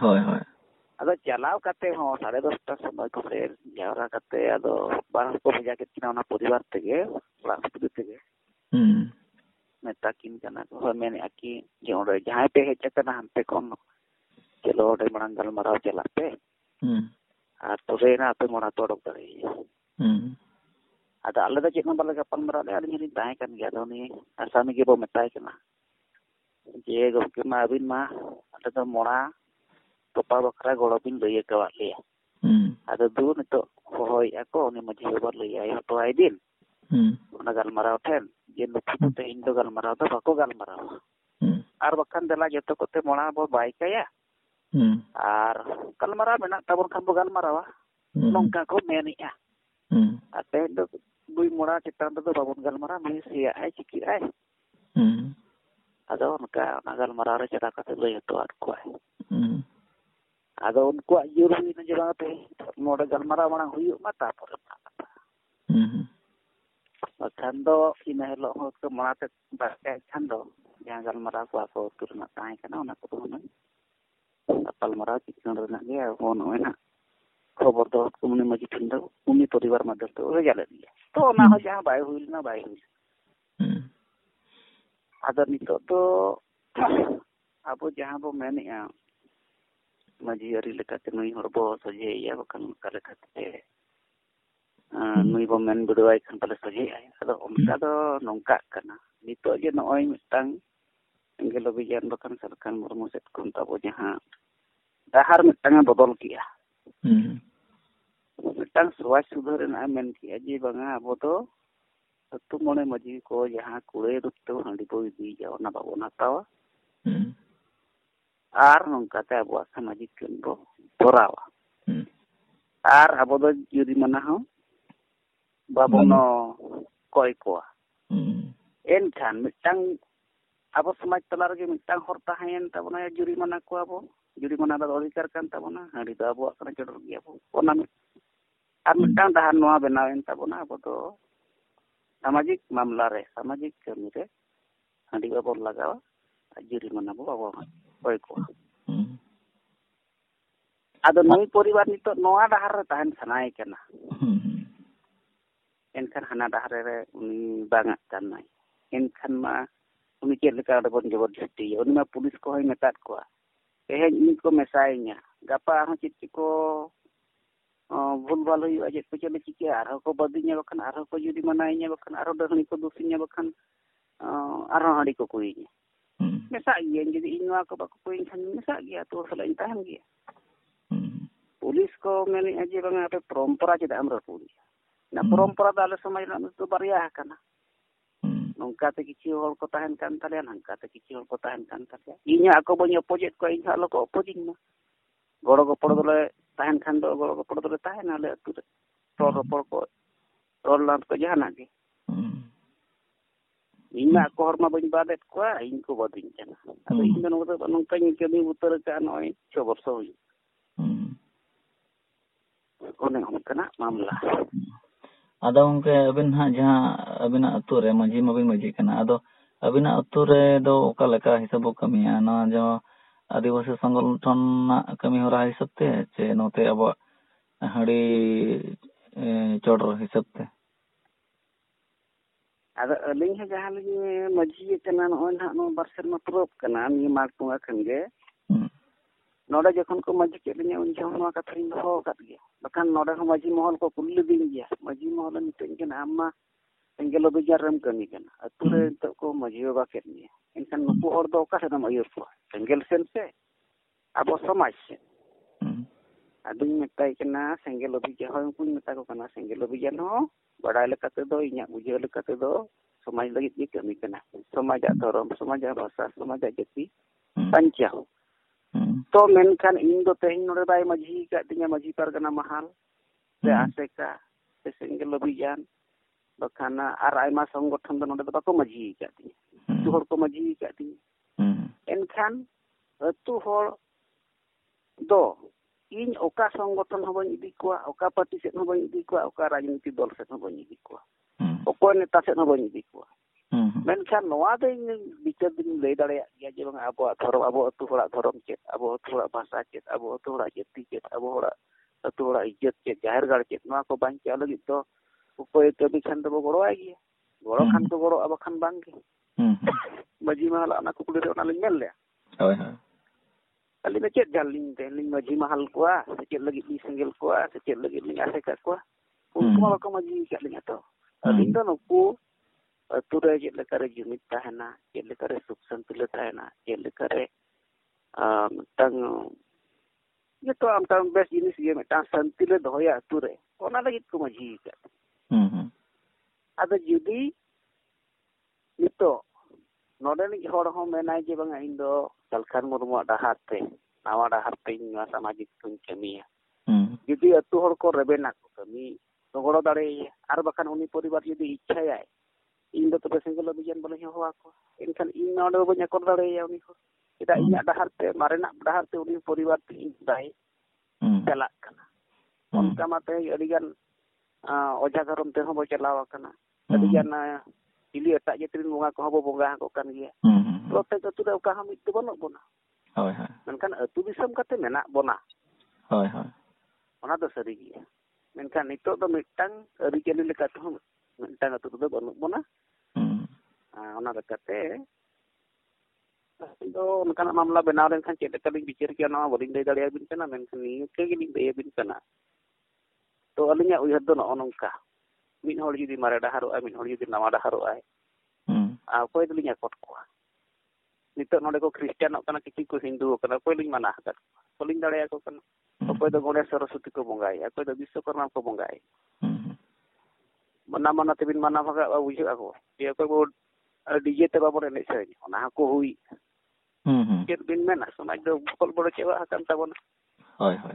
ᱦᱳᱭ ᱦᱳᱭ ᱟᱫᱚ ᱪᱟᱞᱟᱣ ᱠᱟᱛᱮ ᱦᱚᱸ ᱥᱟᱲᱮ ᱫᱚᱥᱴᱟ ᱥᱚᱢᱚᱭ ᱠᱚᱥᱮ ᱡᱟᱣᱨᱟ ᱠᱟᱛᱮ ᱟᱫᱚ ᱵᱟᱨ ᱦᱚᱲ ᱠᱚ ᱵᱷᱮᱡᱟ ᱠᱮᱫ ᱠᱤᱱᱟ ᱚᱱᱟ ᱯᱚᱨᱤᱵᱟᱨ ᱛᱮᱜᱮ ᱚᱲᱟᱜ ᱥᱩᱯᱩᱨ ᱛᱮᱜᱮ ᱢᱮᱛᱟ ᱠᱤᱱ ᱠᱟᱱᱟ ᱠᱚ ᱦᱳᱭ ᱢᱮᱱᱮᱫᱼᱟ ᱠᱤᱱ ᱡᱮ ᱚᱸᱰᱮ ᱡᱟᱦᱟᱸᱭ ᱯᱮ ᱦᱮᱡ ᱟᱠᱟᱱᱟ ᱦᱟᱱᱛᱮ ᱠᱷᱚᱱ ᱪᱚᱞᱚ ᱚᱸᱰᱮ ᱢᱟᱲᱟᱝ ᱜᱟᱞᱢᱟᱨᱟᱣ ᱪᱟᱞᱟᱜ ᱯᱮ ᱟᱨ ᱛᱚᱵᱮᱭᱮᱱᱟ ᱟᱯᱮ ᱢᱚᱲᱟ ᱯᱮ ᱚᱰᱚᱠ ᱫᱟᱲᱮᱭᱟᱜᱼᱟ ᱟᱫᱚ ᱟᱞᱮ ᱫᱚ ᱪᱮᱫ ᱦᱚᱸ ᱵᱟᱞᱮ ᱜᱟᱯᱟᱞᱢᱟᱨᱟᱣ ᱞᱮᱫᱼᱟ ᱟᱹᱞᱤᱧ ᱦᱚᱸᱞᱤᱧ ᱛᱟᱦᱮᱸ ᱠᱟᱱ ᱜᱮᱭᱟ ᱟᱫᱚ ᱩᱱᱤ ᱟᱥᱟᱢᱤ ᱜᱮᱵᱚ ᱢᱮᱛᱟᱭ ᱠᱟᱱᱟ ᱡᱮ ᱜᱚᱢᱠᱮ ᱢᱟ ᱟᱹᱵᱤᱱ ᱢᱟ ᱟᱞᱮ ᱫᱚ ᱢᱚᱲᱟ ᱛᱚᱯᱟ ᱵᱟᱠᱷᱨᱟ ᱜᱚᱲᱚ ᱵᱤᱱ ᱞᱟᱹᱭ ᱟᱠᱟᱣᱟᱫ ᱞᱮᱭᱟ ᱟᱫᱚ ᱫᱩ ᱱᱤᱛᱚᱜ ᱦᱚᱦᱚᱭᱮᱫᱼᱟ ᱠᱚ ᱩᱱᱤ ᱢᱟᱺᱡᱷᱤ ᱵᱟᱵᱟ ᱞᱟᱹᱭ ᱟᱭ ᱦᱚᱴᱚᱣᱟᱭ ᱵᱤᱱ ᱚᱱᱟ ᱜᱟᱞᱢᱟᱨᱟᱣ ᱴᱷᱮᱱ ᱡᱮ ᱱᱩᱠᱩ ᱫᱚ ᱛᱮᱦᱮᱧ ᱫᱚ ᱜᱟᱞᱢᱟᱨᱟᱣ ᱫᱚ ᱵᱟᱠᱚ ᱜᱟᱞᱢᱟᱨᱟᱣᱟ ᱟᱨ ᱵᱟᱠᱷᱟᱱ ᱫᱮᱞᱟ ᱡᱚᱛᱚ ᱠᱚᱛᱮ ᱢᱚᱲᱟ ᱵᱚ ᱵᱟᱭ ᱠᱟᱭᱟ ᱟᱨ ᱜᱟᱞᱢᱟᱨᱟᱣ ᱢᱮᱱᱟᱜ ᱛᱟᱵᱚᱱ ᱠᱷᱟᱱ ᱵᱚ ᱜᱟᱞᱢᱟᱨᱟᱣᱟ ᱱᱚᱝᱠᱟ ᱠᱚ ᱢᱮᱱᱮᱫᱼᱟ ᱟᱨ ᱛᱮᱦᱮᱧ ᱫᱚ ᱱᱩᱭ ᱢᱚᱲᱟ ᱪᱮᱛᱟᱱ ᱨᱮᱫᱚ ᱵᱟᱵᱚᱱ ᱜᱟᱞᱢᱟᱨᱟᱣᱟ ᱱᱩᱭ ᱥᱮᱭᱟᱜ ᱟᱭ ᱪᱤᱠᱟᱹᱜ ᱟᱭ ᱟᱫᱚ ᱚᱱᱠᱟ ᱚᱱᱟ ᱜᱟᱞᱢᱟᱨᱟᱣ ᱨᱮ ᱪᱟᱞᱟᱣ ᱠᱟᱛᱮ ᱞᱟᱹᱭ ᱦᱚᱴᱚᱣᱟᱫ ᱠᱚᱣᱟᱭ ᱟᱫᱚ ᱩᱱᱠᱩᱣᱟᱜ ᱡᱳᱨ ᱦᱩᱭᱱᱟ ᱡᱮ ᱵᱟᱝ ᱛᱮᱦᱮᱧ ᱱᱚᱰᱮ ᱜᱟᱞᱢᱟᱨᱟᱣ ᱢᱟᱲᱟᱝ ᱦᱩᱭᱩᱜ ᱢᱟ ᱛᱟᱨᱯᱚᱨᱮ ᱢᱮᱱᱟᱜ ᱠᱟᱛᱷᱟ ᱵᱟᱠᱷᱟᱱ ᱫᱚ ᱤᱱᱟᱹ ᱦᱤᱞᱳᱜ ᱦᱚᱸ ᱛᱚ ᱢᱟᱲᱟᱝ ᱛᱮ ᱵᱟᱨᱭᱟ ᱠᱷᱟᱱ ᱫᱚ ᱡᱟᱦᱟᱸ ᱜᱟᱞᱢᱟᱨᱟᱣ ᱠᱚ ᱟᱠᱚ ᱟᱹᱛᱩ ᱨᱮᱱᱟᱜ ᱛᱟᱦᱮᱸ ᱠᱟᱱᱟ ᱚᱱᱟ ᱠᱚᱫᱚ ᱦᱩᱱᱟᱹᱝ ᱜᱟᱯᱟᱞᱢᱟᱨᱟᱣ ᱪᱤᱠᱟᱹᱬ ᱨᱮᱱᱟᱜ ᱜᱮ ᱟᱵᱚ ᱱᱚᱜᱼᱚᱭ ᱱᱟᱜ ᱠᱷᱚᱵᱚᱨ ᱫᱚ ᱩᱱᱤ ᱢᱟᱹᱡᱷᱤ ᱴᱷᱮᱱ ᱫᱚ ᱩᱱᱤ ᱯᱚᱨᱤᱵᱟᱨ ᱢᱟᱫᱽᱫᱷᱚᱢ ᱛᱮ ᱵᱷᱮᱡᱟ ᱞᱮᱫ ᱜᱮᱭᱟ ᱛᱚ ᱚᱱᱟ ᱦᱚᱸ ᱡᱟᱦᱟᱸ ᱵᱟᱭ ᱦᱩᱭ ᱞᱮᱱᱟ ᱵᱟᱭ ᱦᱩᱭ ᱞᱮᱱᱟ ᱟᱫᱚ ᱱᱤᱛᱚᱜ ᱫᱚ ᱟᱵᱚ ᱡᱟᱦᱟᱸ ᱵᱚ ᱢᱮᱱᱮᱜᱼᱟ ᱢᱟᱹᱡᱷᱤ ᱟᱹᱨᱤ ᱞᱮᱠᱟᱛᱮ ᱱᱩᱭ ᱦᱚᱲ ᱵᱚ ᱥᱚᱡᱷᱮᱭᱮᱭᱟ ᱵᱟᱠᱷᱟᱱ ᱚᱱᱠᱟ ᱞᱮᱠᱟᱛᱮ ᱱᱩᱭ ᱵᱚ ᱢᱮᱱ ᱵᱤᱰᱟᱹᱣᱟᱭ ᱠᱷᱟᱱ ᱯᱟᱞᱮ ᱥᱚᱡᱷᱮᱜᱼᱟᱭ ᱟᱫᱚ ᱚᱱᱠᱟ ᱫᱚ ᱱᱚᱝᱠᱟᱜ ᱠᱟᱱᱟ ᱱᱤᱛᱚᱜ ᱡᱮ ᱱᱚᱜᱼᱚᱭ ᱢᱤᱫᱴᱟᱝ ᱮᱸᱜᱮᱞ ᱚᱵᱷᱤᱡᱟᱱ ᱵᱟᱠᱷᱟᱱ ᱥᱟᱨᱠᱷᱟᱱ ᱢᱩᱨᱢᱩ ᱥᱮᱫ ᱠᱷᱚᱱ ᱛᱟᱵᱚ ᱡᱟᱦᱟᱸ ᱰᱟᱦᱟᱨ ᱢᱤᱫᱴᱟᱝ ᱮ ᱵᱚᱫᱚᱞ ᱠᱮᱜᱼᱟ ᱢᱤᱫᱴᱟᱝ ᱥᱚᱢᱟᱡᱽ ᱥᱩᱫᱷᱟᱹᱨ ᱨᱮᱱᱟᱜ ᱮ ᱢᱮᱱ ᱠᱮᱜᱼᱟ ᱡᱮ ᱵᱟᱝᱟ ᱟᱵᱚ ᱫᱚ ᱟᱹᱛᱩ ᱢᱚᱬᱮ ᱢᱟᱺᱡᱷᱤ ᱠᱚ ᱡᱟᱦᱟᱸ ᱠᱩᱲᱟᱹᱭ ᱨᱩᱯᱛᱮ ᱦᱟᱺᱰᱤ ᱵᱚ ᱤᱫᱤᱭᱮᱫᱼᱟ ᱚᱱᱟ ᱵᱟᱵᱚᱱ ᱦᱟᱛᱟᱣᱟ ᱟᱨ ᱱᱚᱝᱠᱟᱛᱮ ᱟᱵᱚᱣᱟᱜ ᱥᱟᱢᱟᱡᱤᱠ ᱠᱟᱹᱢᱤ ᱵᱚ ᱛᱚᱨᱟᱣᱟ ᱟᱨ ᱟᱵᱚ ᱫᱚ ᱡᱩᱨᱤᱢᱟᱱᱟ ᱦᱚᱸ ᱵᱟᱵᱚᱱ ᱠᱚᱭ ᱠᱚᱣᱟ ᱮᱱᱠᱷᱟᱱ ᱢᱤᱫᱴᱟᱝ ᱟᱵᱚ ᱥᱚᱢᱟᱡᱽ ᱛᱟᱞᱟ ᱨᱮᱜᱮ ᱢᱤᱫᱴᱟᱝ ᱦᱚᱨ ᱛᱟᱦᱮᱸᱭᱮᱱ ᱛᱟᱵᱚᱱᱟ ᱡᱩᱨᱤᱢᱟᱱᱟ ᱠᱚᱣᱟ ᱵᱚ ᱡᱩᱨᱤᱢᱟᱱᱟ ᱫᱚ ᱚᱫᱷᱤᱠᱟᱨ ᱠᱟᱱ ᱛᱟᱵᱚᱱᱟ ᱦᱟᱺᱰᱤ ᱫᱚ ᱟᱵᱚᱣᱟᱜ ᱠᱟᱱᱟ ᱪᱚᱰᱚᱨ ᱜᱮᱭᱟ ᱵᱚ ᱚᱱᱟ ᱢᱤᱫ ᱟᱨ ᱢᱤᱫᱴᱟᱝ ᱰᱟᱦᱟᱨ ᱱᱚᱣᱟ ᱵᱮᱱᱟᱣᱮᱱ ᱛᱟᱵᱚᱱᱟ ᱟᱵᱚ ᱫᱚ ᱥᱟᱢᱟᱡᱤᱠ ᱢᱟᱢᱞᱟ ᱨᱮ ᱥᱟᱢᱟᱡᱤᱠ ᱠᱟᱹᱢᱤ ᱨᱮ ᱦᱟᱺᱰᱤ ᱵᱟᱵᱚᱱ ᱞᱟᱜᱟᱣᱟ ᱟᱨ ᱡᱩᱨᱤᱢᱟᱱᱟ ᱵᱚ ᱵᱟᱵᱚ ᱠᱚᱭ ᱠᱚᱣᱟ ᱟᱫᱚ ᱱᱩᱭ ᱯᱚᱨᱤᱵᱟᱨ ᱱᱤᱛᱚᱜ ᱱᱚᱣᱟ ᱰᱟᱦᱟᱨ ᱨᱮ ᱛᱟᱦᱮᱱ ᱥᱟᱱᱟᱭᱮ ᱠᱟᱱᱟ ᱮᱱᱠᱷᱟᱱ ᱦᱟᱱᱟ ᱰᱟᱦᱟᱨ ᱨᱮ ᱩᱱᱤ ᱵᱟᱝᱟᱜ ᱠᱟᱱᱟᱭ ᱮᱱᱠᱷᱟᱱ ᱢᱟ ᱩᱱᱤ ᱪᱮᱫ ᱞᱮᱠᱟ ᱚᱸᱰᱮ ᱵᱚᱱ ᱡᱚᱵᱚᱨ ᱡᱷᱟᱹᱴᱤᱭᱟ ᱩᱱᱤ ᱢᱟ ᱯᱩᱞᱤᱥ ᱠᱚᱦᱚᱸᱭ ᱢᱮᱛᱟᱫ ᱠᱚᱣᱟ ᱛᱮᱦᱮᱧ ᱤᱧ ᱠᱚ ᱢᱮᱥᱟᱭᱤᱧᱟ ᱜᱟᱯᱟ ᱟᱨᱦᱚᱸ ᱪᱮᱫ ᱪᱚᱠᱚ ᱵᱷᱩᱞ ᱵᱷᱟᱞ ᱦᱩᱭᱩᱜᱼᱟ ᱪᱮᱫ ᱠᱚᱪᱚᱞᱮ ᱪᱤᱠᱟᱹᱭᱟ ᱟᱨᱦᱚᱸ ᱠᱚ ᱵᱟᱹᱫᱤᱧᱟ ᱵᱟᱠᱷᱟᱱ ᱟᱨᱦᱚᱸ ᱠᱚ ᱡᱩᱫᱤ ᱢᱟᱱᱟᱭᱤᱧᱟ ᱵᱟᱠᱷᱟᱱ ᱟᱨᱦᱚᱸ ᱰᱟᱹᱦᱱᱤ ᱠᱚ ᱫᱩᱥᱤᱧᱟ ᱵᱟᱠᱷᱟᱱ ᱟᱨᱦᱚᱸ ᱦᱟᱺᱰᱤ ᱠᱚ ᱠᱩᱭᱤᱧᱟ ᱢᱮᱥᱟᱜ ᱜᱤᱭᱟᱹᱧ ᱡᱩᱫᱤ ᱤᱧ ᱱᱚᱣᱟ ᱠᱚ ᱵᱟᱠᱚ ᱠᱩᱭᱤᱧ ᱠᱷᱟᱱ ᱢᱮᱥᱟᱜ ᱜᱮᱭᱟ ᱛᱚ ᱥᱟᱞᱟᱜ ᱤᱧ ᱛᱟᱦᱮᱱ ᱜᱮᱭᱟ ᱯᱩᱞᱤᱥ ᱠᱚ ᱢᱮᱱᱮᱫᱼᱟ ᱡᱮ ᱵᱟᱝᱟ ᱟᱯᱮ ᱯᱚᱨᱚᱢᱯᱚᱨᱟ ᱪᱮᱫᱟᱜ ᱮᱢ ᱨᱟᱹᱯᱩᱫᱮᱜᱼᱟ ᱚᱱᱟ ᱯᱚᱨᱚᱢᱯᱚᱨᱟ ᱫᱚ ᱟᱞᱮ ᱥᱚᱢᱟᱡᱽ ᱨᱮᱱᱟᱜ ᱱᱤᱛᱚᱜ ᱵᱟᱨᱭᱟ ᱟᱠᱟᱱᱟ ᱱᱚᱝᱠᱟᱛᱮ ᱠᱤᱪᱷᱩ ᱦᱚᱲ ᱠᱚ ᱛᱟᱦᱮᱱ ᱠᱟᱱ ᱛᱟᱞᱮᱭᱟ ᱱᱚᱝᱠᱟᱛᱮ ᱠᱤᱪᱷᱩ ᱦᱚᱲ ᱠᱚ ᱛᱟᱦᱮᱱ ᱠᱟᱱ ᱛᱟᱞᱮᱭᱟ ᱤᱧ ᱦᱚᱸ ᱟᱠᱚ ᱵᱟᱹᱧ ᱚᱯᱚᱡᱮᱫ ᱠᱚᱣᱟ ᱤᱧ ᱦᱚᱸ ᱟᱞᱚ ᱠᱚ ᱚᱯᱚᱡᱤᱧ ᱢᱟ ᱜᱚᱲᱚ ᱜᱚᱯᱚᱲᱚ ᱫᱚᱞᱮ ᱛᱟᱦᱮᱱ ᱠᱷᱟᱱ ᱫᱚ ᱜᱚᱲᱚ ᱜᱚᱯᱚᱲᱚ ᱫᱚᱞᱮ ᱛᱟᱦᱮᱱᱟ ᱟᱞᱮ ᱟᱹᱛᱩ ᱨᱮ ᱨᱚᱲ ᱨᱚᱯᱚᱲ ᱠᱚ ᱨᱚᱲ ᱞᱟᱸᱫ ᱠᱚ ᱡᱟᱦᱟᱱᱟᱜ ᱜᱮ ᱤᱧ ᱢᱟ ᱟᱠᱚ ᱦᱚᱲ ᱢᱟ ᱵᱟᱹᱧ ᱵᱟᱫᱮᱫ ᱠᱚᱣᱟ ᱤᱧ ᱠᱚ ᱵᱟᱫᱤᱧ ᱠᱟᱱᱟ ᱟᱫᱚ ᱤᱧ ᱫᱚ ᱱᱚᱣᱟ ᱫᱚ ᱱᱚᱝᱠᱟᱧ ᱠᱟᱹᱢᱤ ᱩᱛᱟᱹᱨ ᱟᱠᱟᱫᱼᱟ ᱱᱚᱜᱼᱚᱭ ᱪᱷᱚ ᱵᱚᱨᱥᱚ ᱦᱩᱭᱩᱜ ᱚᱱᱮ ᱚᱱᱠᱟᱱᱟᱜ ᱢᱟᱢᱞᱟ ᱟᱫᱚ ᱜᱚᱝᱠᱮ ᱟᱵᱤᱱ ᱦᱟᱸᱜ ᱡᱟᱦᱟᱸ ᱟᱵᱤᱱᱟᱜ ᱟᱛᱳ ᱨᱮ ᱢᱟᱺᱡᱷᱤ ᱢᱟᱵᱤᱱ ᱢᱟᱺᱡᱷᱤ ᱠᱟᱱᱟ ᱟᱫᱚ ᱟᱵᱤᱱᱟᱜ ᱟᱛᱳ ᱨᱮ ᱫᱚ ᱚᱠᱟ ᱞᱮᱠᱟ ᱦᱤᱥᱟᱹᱵ ᱵᱚ ᱠᱟᱹᱢᱤᱭᱟ ᱱᱚᱣᱟ ᱡᱚ ᱟᱹᱫᱤᱵᱟᱹᱥᱤ ᱥᱚᱝᱜᱚᱴᱷᱚᱱ ᱨᱮᱱᱟᱜ ᱠᱟᱹᱢᱤ ᱦᱚᱨᱟ ᱦᱤᱥᱟᱹᱵ ᱛᱮ ᱥᱮ ᱱᱚᱛᱮ ᱟᱵᱚᱣᱟᱜ ᱦᱟᱺᱰᱤ ᱪᱚᱰᱚᱨ ᱦᱤᱥᱟᱹᱵ ᱛᱮ ᱟᱫᱚ ᱟᱹᱞᱤᱧ ᱦᱚᱸ ᱡᱟᱦᱟᱸ ᱞᱤᱧ ᱢᱟᱹᱡᱷᱤ ᱠᱟᱱᱟ ᱱᱚᱜᱼᱚᱭ ᱱᱟᱦᱟᱜ ᱱᱚᱣᱟ ᱵᱟᱨ ᱥᱮᱨᱢᱟ ᱯᱩᱨᱟᱹᱣ ᱠᱟᱱᱟ ᱱᱤᱭᱟᱹ ᱢᱟᱜᱽ ᱵᱚᱸᱜᱟ ᱠᱷᱚᱱ ᱜᱮ ᱱᱚᱰᱮ ᱡᱚᱠᱷᱚᱱ ᱠᱚ ᱢᱟᱹᱡᱷᱤ ᱠᱮᱫ ᱞᱤᱧᱟ ᱩᱱ ᱡᱚᱠᱷᱚᱱ ᱱᱚᱣᱟ ᱠᱟᱛᱷᱟ ᱞᱤᱧ ᱫᱚᱦᱚ ᱟᱠᱟᱫ ᱜᱮᱭᱟ ᱵᱟᱠᱷᱟᱱ ᱱᱚᱰᱮ ᱦᱚᱸ ᱢᱟᱹᱡᱷᱤ ᱢᱚᱦᱚᱞ ᱠᱚ ᱠᱩᱞᱤ ᱞᱤᱫᱤᱧ ᱜᱮᱭᱟ ᱢᱟᱹᱡᱷᱤ ᱢᱚᱦᱚᱞ ᱮ ᱢᱤᱛᱟᱹᱧ ᱠᱟᱱᱟ ᱟᱢ ᱢᱟ ᱥᱮᱸᱜᱮᱞ ᱚᱵᱷᱤᱡᱟᱱ ᱨᱮᱢ ᱠᱟᱹᱢᱤ ᱠᱟᱱᱟ ᱟᱹᱛᱩ ᱨᱮ ᱱᱤᱛᱚᱜ ᱠᱚ ᱢᱟᱹᱡᱷᱤ ᱵᱟᱵᱟ ᱠᱮᱫ ᱢᱮᱭᱟ ᱮᱱᱠᱷᱟᱱ ᱱᱩᱠᱩ ᱦᱚᱲ ᱫᱚ ᱚᱠᱟ ᱥᱮᱫᱮᱢ ᱟᱹᱭᱩᱨ ᱠᱚᱣᱟ ᱥᱮᱸᱜᱮᱞ ᱥᱮᱱ ᱥᱮ ᱟᱵᱚ ᱥᱚᱢᱟᱡᱽ ᱥᱮᱫ ᱟᱫᱚᱧ ᱢᱮᱛᱟᱭ ᱠᱟᱱᱟ ᱥᱮᱸᱜᱮᱞ ᱚᱵᱷᱤᱡᱟᱱ ᱦᱚᱸ ᱩᱱᱠᱩᱧ ᱢᱮᱛᱟ ᱠᱚ ᱠᱟᱱᱟ ᱥᱮᱸᱜᱮᱞ ᱚᱵᱷᱤᱡᱟᱱ ᱦᱚᱸ ᱵᱟᱲᱟᱭ ᱞᱮᱠᱟ ᱛᱮᱫᱚ ᱤᱧᱟᱹᱜ ᱵᱩᱡᱷᱟᱹᱣ ᱞᱮᱠᱟ ᱛᱮᱫᱚ ᱥᱚᱢᱟᱡᱽ ᱞᱟᱹᱜᱤᱫ ᱜᱮ ᱠᱟᱹᱢᱤ ᱠᱟᱱᱟ ᱥᱚᱢᱟᱡᱟᱜ ᱫᱷᱚᱨᱚᱢ ᱥᱚᱢᱟᱡᱟᱜ ᱵᱷᱟᱥᱟ ᱥᱚᱢᱟᱡᱟᱜ ᱡᱟᱹᱛᱤ ᱵᱟᱧᱪᱟᱣ ᱛᱚ ᱢᱮᱱᱠᱷᱟᱱ ᱤᱧ ᱫᱚ ᱛᱮᱦᱮᱧ ᱱᱚᱰᱮ ᱵᱟᱭ ᱢᱟᱹᱡᱷᱤ ᱟᱠᱟᱫ ᱛᱤᱧᱟ ᱢᱟᱹᱡᱷᱤ ᱯᱟᱨᱜᱟᱱᱟ ᱢᱟᱦᱟᱞ ᱥᱮ ᱟᱥᱮᱠᱟ ᱥᱮ ᱥᱮᱸᱜᱮᱞ ᱚᱵᱷᱤᱡᱟᱱ ᱵᱟᱠᱷᱟᱱ ᱟᱨ ᱟᱭᱢᱟ ᱥᱚᱝᱜᱚᱴᱷᱚᱱ ᱫᱚ ᱱᱚᱰᱮ ᱫᱚ ᱵᱟᱠᱚ ᱢᱟᱹᱡᱷᱤ ᱟᱠᱟᱫ ᱛᱤᱧᱟ ᱟᱹᱛᱩ ᱦᱚᱲ ᱠᱚ ᱢᱟᱹᱡᱷᱤ ᱟᱠᱟᱫ ᱛᱤᱧᱟ ᱮᱱᱠᱷᱟᱱ ᱟᱹᱛᱩ ᱦᱚᱲ ᱫᱚ ᱤᱧ ᱚᱠᱟ ᱥᱚᱝᱜᱚᱴᱷᱚᱱ ᱦᱚᱸ ᱵᱟᱹᱧ ᱤᱫᱤ ᱠᱚᱣᱟ ᱚᱠᱟ ᱯᱟᱨᱴᱤ ᱥᱮᱫ ᱦᱚᱸ ᱵᱟᱹᱧ ᱤᱫᱤ ᱠᱚᱣᱟ ᱚᱠᱟ ᱨᱟᱡᱽᱱᱤᱛᱤ ᱫᱚᱞ ᱥᱮᱫ ᱦᱚᱸ ᱵᱟᱹᱧ ᱤᱫᱤ ᱠᱚᱣᱟ ᱚᱠᱚᱭ ᱱᱮᱛᱟ ᱥᱮᱫ ᱦᱚᱸ ᱵᱟᱹᱧ ᱤᱫᱤ ᱠᱚᱣᱟ ᱢᱮᱱᱠᱷᱟᱱ ᱱᱚᱣᱟ ᱫᱚ ᱤᱧ ᱵᱤᱪᱟᱹᱨ ᱫᱚᱧ ᱞᱟᱹᱭ ᱫᱟᱲᱮᱭᱟᱜ ᱜᱮᱭᱟ ᱡᱮ ᱵᱟᱝ ᱟᱵᱚᱣᱟᱜ ᱫᱷᱚᱨᱚᱢ ᱟᱵᱚ ᱟᱹᱛᱩ ᱦᱚᱲᱟᱜ ᱫᱷᱚᱨᱚᱢ ᱪᱮᱫ ᱟᱵᱚ ᱟᱹᱛᱩ ᱦᱚᱲᱟᱜ ᱵᱷᱟᱥᱟ ᱪᱮᱫ ᱟᱵᱚ ᱟᱹᱛᱩ ᱦᱚᱲᱟᱜ ᱡᱟᱹᱛᱤ ᱪᱮᱫ ᱟᱵᱚ ᱦᱚᱲᱟᱜ ᱟᱹᱛᱩ ᱦᱚᱲᱟᱜ ᱤᱡᱽᱡᱚᱛ ᱪᱮᱫ ᱡᱟᱦᱮᱨ ᱜᱟᱲ ᱪᱮᱫ ᱱᱚᱣᱟ ᱠᱚ ᱵᱟᱧᱪᱟᱣ ᱞᱟᱹᱜᱤᱫ ᱫᱚ ᱚᱠᱚᱭ ᱠᱟᱹᱢᱤ ᱠᱷᱟᱱ ᱫᱚᱵᱚ ᱜᱚᱲᱚᱣᱟᱭ ᱜᱮᱭᱟ ᱜᱚᱲᱚ ᱠᱷᱟᱱ ᱠᱚ ᱜᱚᱲᱚᱜᱼᱟ ᱵᱟᱠᱷᱟᱱ ᱵᱟᱝᱜᱮ ᱢᱟᱹᱡᱷᱤ ᱢᱟᱦᱟᱞᱟ ᱚᱱᱟ ᱠᱩᱠᱞᱤ ᱨᱮ ᱚᱱᱟᱞᱤᱧ ᱢᱮᱱ ᱞᱮᱭᱟ ᱟᱹᱞᱤᱧ ᱫᱚ ᱪᱮᱫ ᱡᱟᱞ ᱞᱤᱧ ᱛᱟᱦᱮᱱ ᱞᱤᱧ ᱢᱟᱹᱡᱷᱤ ᱢᱟᱦᱟᱞ ᱠᱚᱣᱟ ᱥᱮ ᱪᱮᱫ ᱞᱟᱹᱜᱤᱫ ᱞᱤᱧ ᱥᱮᱸᱜᱮᱞ ᱠᱚᱣᱟ ᱥᱮ ᱪᱮᱫ ᱞᱟᱹᱜᱤᱫ ᱞᱤᱧ ᱟᱥᱮ ᱠᱟᱜ ᱠᱚᱣᱟ ᱩᱱᱠᱩ ᱢᱟ ᱵᱟᱠᱚ ᱢᱟᱹᱡᱷᱤ ᱠᱟᱜ ᱞᱤᱧᱟ ᱛᱚ ᱟᱹᱞᱤᱧ ᱫᱚ ᱱᱩᱠᱩ ᱟᱹᱛᱩ ᱨᱮ ᱪᱮᱫ ᱞᱮᱠᱟᱨᱮ ᱡᱩᱢᱤᱫ ᱛᱟᱦᱮᱱᱟ ᱪᱮᱫ ᱞᱮᱠᱟᱨᱮ ᱥᱩᱠ ᱥᱟᱱᱛᱤ ᱞᱮ ᱛᱟᱦᱮᱱᱟ ᱪᱮᱫ ᱞᱮᱠᱟᱨᱮ ᱢᱤᱫᱴᱟᱝ ᱡᱚᱛᱚ ᱢᱤᱫᱴᱟᱝ ᱵᱮᱥ ᱡᱤᱱᱤᱥ ᱜᱮ ᱢᱤᱫᱴᱟᱝ ᱥᱟᱱᱛᱤ ᱞᱮ ᱫᱚᱦᱚᱭᱟ ᱟᱹᱛᱩ ᱨᱮ ᱚᱱᱟ ᱞᱟᱹᱜᱤᱫ ᱠᱚ ᱢᱟᱹᱡᱷᱤ ᱠᱟᱜ ᱟᱫᱚ ᱡᱩᱫᱤ ᱱᱤᱛᱚᱜ ᱱᱚᱰᱮᱱᱤᱡ ᱦᱚᱲ ᱦᱚᱸ ᱢᱮᱱᱟᱭ ᱡᱮ ᱵᱟᱝᱟ ᱤᱧ ᱫᱚ ᱥᱟᱞᱠᱷᱟᱱ ᱢᱩᱨᱢᱩᱣᱟᱜ ᱰᱟᱦᱟᱨ ᱛᱮ ᱱᱟᱣᱟ ᱰᱟᱦᱟᱨ ᱛᱮ ᱤᱧ ᱱᱚᱣᱟ ᱥᱟᱢᱟᱡᱤᱠ ᱠᱚᱧ ᱠᱟᱹᱢᱤᱭᱟ ᱡᱩᱫᱤ ᱟᱹᱛᱩ ᱦᱚᱲ ᱠᱚ ᱨᱮᱵᱮᱱᱟ ᱠᱚ ᱠᱟᱹᱢᱤ ᱫᱚ ᱜᱚᱲᱚ ᱫᱟᱲᱮᱭᱟᱭᱟ ᱟᱨ ᱵᱟᱠᱷᱟᱱ ᱩᱱᱤ ᱯᱚᱨᱤᱵᱟᱨ ᱡᱩᱫᱤ ᱤᱪᱪᱷᱟᱭᱟᱭ ᱤᱧ ᱫᱚ ᱛᱚᱵᱮ ᱥᱮᱸᱜᱮᱞ ᱚᱵᱷᱤᱡᱟᱱ ᱵᱚᱞᱮᱧ ᱦᱚᱦᱚ ᱟᱠᱚᱣᱟ ᱮᱱᱠᱷᱟᱱ ᱤᱧ ᱢᱟ ᱚᱸᱰᱮ ᱵᱟᱹᱧ ᱟᱠᱚᱴ ᱫᱟᱲᱮᱭᱟᱭᱟ ᱩᱱᱤ ᱦᱚᱸ ᱪᱮᱫᱟᱜ ᱤᱧᱟᱹᱜ ᱰᱟᱦᱟᱨ ᱛᱮ ᱢᱟᱨᱮᱱᱟᱜ ᱰᱟᱦᱟᱨ ᱛᱮ ᱩᱱᱤ ᱯᱚᱨᱤᱵᱟᱨ ᱛᱮ ᱤᱧ ᱵᱟᱭ ᱪᱟᱞᱟᱜ ᱠᱟᱱᱟ ᱚᱱᱠᱟ ᱢᱟᱛᱮ ᱟᱹᱰᱤᱜᱟᱱ ᱚᱡᱷᱟ ᱫᱷᱚᱨᱚᱢ ᱛᱮᱦᱚᱸ ᱵᱚ ᱪᱟᱞᱟᱣ ᱟᱠᱟᱱᱟ ᱦᱩᱸ᱾ ᱟᱹᱰᱤ ᱜᱟᱱ ᱟᱸ, ᱪᱤᱞᱤ ᱮᱴᱟᱜ ᱡᱟᱹᱛ ᱨᱮᱱ ᱵᱚᱸᱜᱟ ᱠᱚᱦᱚᱸ ᱵᱚ ᱵᱚᱸᱜᱟ ᱟᱠᱚ ᱠᱟᱱ ᱜᱮᱭᱟ ᱦᱩᱸ ᱦᱩᱸ ᱦᱩᱸ᱾ ᱯᱨᱚᱛᱮᱠ ᱟᱹᱛᱩ ᱨᱮ ᱚᱠᱟ ᱦᱚᱸ ᱢᱤᱫ ᱫᱚ ᱵᱟᱹᱱᱩᱜ ᱵᱚᱱᱟ ᱦᱳᱭ ᱦᱳᱭ ᱢᱮᱱᱠᱷᱟᱱ ᱟᱹᱛᱩ ᱫᱤᱥᱚᱢ ᱠᱟᱛᱮ ᱢᱮᱱᱟᱜ ᱵᱚᱱᱟ ᱦᱳᱭ ᱦᱳᱭ ᱚᱱᱟ ᱫᱚ ᱥᱟᱹᱨᱤ ᱜᱮᱭᱟ ᱢᱮᱱᱠᱷᱟᱱ ᱱᱤᱛᱚᱜ ᱫᱚ ᱢᱤᱫᱴᱟᱝ ᱟᱹᱨᱤᱪᱟᱹᱞᱤ ᱞᱮᱠᱟ ᱛᱮᱦᱚᱸ ᱢᱤᱫᱴᱟᱝ ᱟᱹᱛᱩ ᱨᱮᱫᱚ ᱵᱟᱹᱱᱩᱜ ᱵᱚᱱᱟ ᱦᱩᱸ ᱟᱨ ᱚᱱᱟ ᱞᱮᱠᱟᱛᱮ ᱟᱹᱞᱤᱧ ᱫᱚ ᱚᱱᱠᱟᱱᱟᱜ ᱢᱟᱢᱞᱟ ᱵᱮᱱᱟᱣ ᱞᱮᱱᱠᱷᱟᱱ ᱪᱮᱫ ᱞᱮᱠᱟᱞᱤᱧ ᱵᱤᱪᱟᱹᱨ ᱠᱮᱭᱟ ᱚᱱᱟ ᱢᱟ ᱵᱟᱹᱞᱤᱧ ᱞᱟᱹᱭ ᱫᱟᱲᱮᱭᱟᱵᱤᱱ ᱠᱟᱱᱟ ᱢᱮᱱᱠᱷᱟᱱ ᱱᱤᱭᱟᱹ ᱠᱚᱜᱮᱞᱤᱧ ᱞᱟᱹᱭᱟᱵᱤᱱ ᱠᱟᱱᱟ ᱛᱚ ᱟᱹᱞᱤᱧᱟᱜ ᱩᱭᱦᱟᱹᱨ ᱫᱚ ᱱᱚᱜᱼᱚ ᱱᱚᱝᱠᱟ ᱢᱤᱫ ᱦᱚᱲ ᱡᱩᱫᱤ ᱢᱟᱨᱮ ᱰᱟᱦᱟᱨᱚᱜᱼᱟᱭ ᱢᱤᱫ ᱦᱚᱲ ᱡᱩᱫᱤ ᱱᱟᱣᱟ ᱰᱟᱦᱟᱨᱚᱜᱼᱟᱭ ᱟᱨ ᱚᱠᱚᱭ ᱫᱚᱞᱤᱧ ᱟᱠᱚᱴ ᱠᱚᱣᱟ ᱱᱤᱛᱚᱜ ᱱᱚᱰᱮ ᱠᱚ ᱠᱷᱨᱤᱥᱴᱟᱱᱚᱜ ᱠᱟᱱᱟ ᱠᱤᱪᱷᱩ ᱠᱚ ᱦᱤᱱᱫᱩ ᱟᱠᱟᱱᱟ ᱚᱠᱚᱭ ᱞᱤᱧ ᱢᱟᱱᱟ ᱟᱠᱟᱫ ᱠᱚᱣᱟ ᱵᱟᱹᱞᱤᱧ ᱫᱟᱲᱮᱭᱟᱠᱚ ᱠᱟᱱᱟ ᱚᱠᱚᱭ ᱫᱚ ᱜᱚᱬᱮᱥ ᱥᱚᱨᱚᱥᱚᱛᱤ ᱠᱚ ᱵᱚᱸᱜᱟᱭᱮᱫᱼᱟ ᱚᱠᱚᱭ ᱫᱚ ᱵᱤᱥᱥᱚᱠᱚᱨᱢᱟ ᱠᱚ ᱵᱚᱸᱜᱟᱭᱮᱫᱼᱟ ᱢᱟᱱᱟ ᱢᱟᱱᱟ ᱛᱮᱵᱤᱱ ᱢᱟᱱᱟ ᱵᱷᱟᱜᱟᱜᱼᱟ ᱵᱩᱡᱷᱟᱹᱜ ᱟᱠᱚ ᱡᱮ ᱚᱠᱚᱭ ᱵᱚ ᱰᱤᱡᱮ ᱛᱮ ᱵᱟᱵᱚᱱ ᱮᱱᱮᱡ ᱥᱮᱨᱮᱧ ᱚᱱᱟ ᱦᱚᱸᱠᱚ ᱦᱩᱭ ᱪᱮᱫ ᱵᱤᱱ ᱢᱮᱱᱟ ᱥᱚᱢᱟᱡᱽ ᱫᱚ ᱵᱚᱠᱚᱞ ᱵᱚᱲᱚ ᱪᱟᱵᱟ ᱟᱠᱟᱱ ᱛᱟᱵᱚᱱᱟ ᱦᱳᱭ ᱦᱳᱭ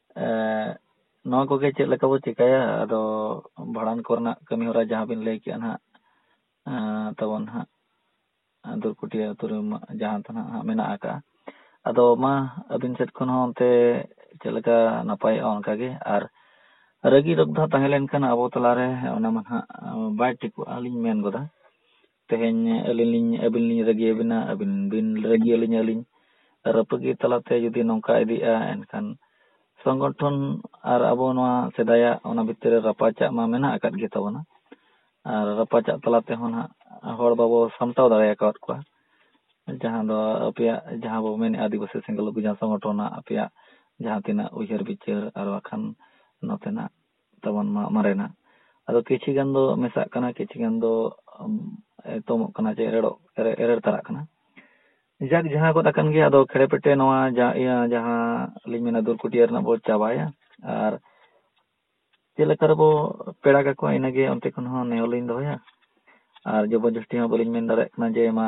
ᱱᱚᱣᱟ ᱠᱚᱜᱮ ᱪᱮᱫ ᱞᱮᱠᱟ ᱵᱚ ᱪᱮᱠᱟᱭᱟ ᱟᱫᱚ ᱵᱷᱟᱸᱰᱟᱱ ᱠᱚᱨᱮᱱᱟᱜ ᱠᱟᱹᱢᱤ ᱦᱚᱨᱟ ᱡᱟᱦᱟᱸ ᱵᱤᱱ ᱞᱟᱹᱭ ᱠᱮᱜᱼᱟ ᱱᱟᱦᱟᱜ ᱛᱟᱵᱚᱱ ᱱᱟᱦᱟᱜ ᱫᱩᱨᱠᱩᱴᱤᱭᱟᱹ ᱟᱹᱛᱩ ᱨᱮ ᱡᱟᱦᱟᱸ ᱫᱚ ᱱᱟᱦᱟᱜ ᱢᱮᱱᱟᱜ ᱟᱠᱟᱜᱼᱟ ᱟᱫᱚ ᱢᱟ ᱟᱹᱵᱤᱱ ᱥᱮᱫ ᱠᱷᱚᱱ ᱦᱚᱸ ᱚᱱᱛᱮ ᱪᱮᱫ ᱞᱮᱠᱟ ᱱᱟᱯᱟᱭᱚᱜᱼᱟ ᱚᱱᱠᱟ ᱜᱮ ᱟᱨ ᱨᱟᱹᱜᱤ ᱨᱚᱫᱷᱟ ᱛᱟᱦᱮᱸ ᱞᱮᱱᱠᱷᱟᱱ ᱟᱵᱚ ᱛᱟᱞᱟᱨᱮ ᱚᱱᱟ ᱢᱟ ᱱᱟᱦᱟᱜ ᱵᱟᱭ ᱴᱷᱤᱠᱚᱜᱼᱟ ᱞᱤᱧ ᱢᱮᱱ ᱜᱚᱫᱟ ᱛᱮᱦᱮᱧ ᱟᱹᱞᱤᱧ ᱞᱤᱧ ᱟᱹᱵᱤᱱ ᱞᱤᱧ ᱨᱟᱹᱜᱤ ᱟᱹᱵᱤᱱᱟ ᱟᱹᱵᱤᱱ ᱵᱤᱱ ᱨᱟᱹᱜᱤ ᱟᱹᱞᱤᱧ ᱟᱹᱞᱤᱧ ᱨᱟᱹᱯᱟᱹᱜᱤ ᱛᱟᱞᱟᱛᱮ ᱡᱩᱫᱤ ᱱᱚᱝᱠᱟ ᱤᱫᱤᱜᱼᱟ ᱮᱱᱠᱷᱟᱱ ᱥᱚᱝᱜᱚᱴᱷᱚᱱ ᱟᱨ ᱟᱵᱚ ᱱᱚᱣᱟ ᱥᱮᱫᱟᱭᱟᱜ ᱚᱱᱟ ᱵᱷᱤᱛᱤᱨ ᱨᱮ ᱨᱟᱯᱟᱪᱟᱜ ᱢᱟ ᱢᱮᱱᱟᱜ ᱟᱠᱟᱫ ᱜᱮ ᱛᱟᱵᱚᱱᱟ ᱟᱨ ᱨᱟᱯᱟᱪᱟᱜ ᱛᱟᱞᱟ ᱛᱮᱦᱚᱸ ᱱᱟᱜ ᱦᱚᱲ ᱵᱟᱵᱚ ᱥᱟᱢᱴᱟᱣ ᱫᱟᱲᱮ ᱟᱠᱟᱫ ᱠᱚᱣᱟ ᱡᱟᱦᱟᱸ ᱫᱚ ᱟᱯᱮᱭᱟᱜ ᱡᱟᱦᱟᱸ ᱵᱚ ᱢᱮᱱᱮᱫᱼᱟ ᱟᱹᱫᱤᱵᱟᱹᱥᱤ ᱥᱮᱸᱜᱮᱞ ᱚᱵᱷᱤᱡᱟᱱ ᱥᱚᱝᱜᱚᱴᱷᱚᱱ ᱨᱮᱱᱟᱜ ᱟᱯᱮᱭᱟᱜ ᱡᱟᱦᱟᱸ ᱛᱤᱱᱟᱹᱜ ᱩᱭᱦᱟᱹᱨ ᱵᱤᱪᱟᱹᱨ ᱟᱨ ᱵᱟᱠᱷᱟᱱ ᱱᱚᱛᱮᱱᱟᱜ ᱛᱟᱵᱚᱱ ᱢᱟ ᱢᱟᱨᱮᱱᱟᱜ ᱟᱫᱚ ᱠᱤᱪᱷᱤ ᱜᱟᱱ ᱫᱚ ᱢᱮᱥᱟᱜ ᱠᱟᱱᱟ ᱠᱤᱪᱷᱤ ᱜᱟᱱ ᱫᱚ ᱮᱛᱚᱢᱚᱜ ᱠᱟᱱᱟ ᱡᱮ ᱮᱨᱮᱲᱚᱜ ᱮᱨᱮᱲ ᱛᱟᱨᱟᱜ ᱠᱟᱱᱟ ᱡᱟᱠ ᱡᱟᱦᱟᱸ ᱜᱚᱫ ᱟᱠᱟᱱ ᱜᱮᱭᱟ ᱟᱫᱚ ᱠᱷᱮᱲᱮ ᱯᱮᱴᱮ ᱱᱚᱣᱟ ᱤᱭᱟᱹ ᱡᱟᱦᱟᱸ ᱞᱤᱧ ᱢᱮᱱᱟ ᱫᱩᱨᱠᱩᱴᱤᱭᱟᱹ ᱨᱮᱱᱟᱜ ᱵᱚ ᱪᱟᱵᱟᱭᱟ ᱟᱨ ᱪᱮᱫ ᱞᱮᱠᱟ ᱨᱮᱵᱚ ᱯᱮᱲᱟ ᱠᱟᱠᱚᱣᱟ ᱤᱱᱟᱹᱜᱮ ᱚᱱᱛᱮ ᱠᱷᱚᱱ ᱦᱚᱸ ᱱᱮᱦᱚᱨ ᱞᱤᱧ ᱫᱚᱦᱚᱭᱟ ᱟᱨ ᱡᱚᱵᱚᱨ ᱡᱚᱥᱛᱤ ᱦᱚᱸ ᱵᱟᱹᱞᱤᱧ ᱢᱮᱱ ᱫᱟᱲᱮᱭᱟᱜ ᱠᱟᱱᱟ ᱡᱮ ᱢᱟ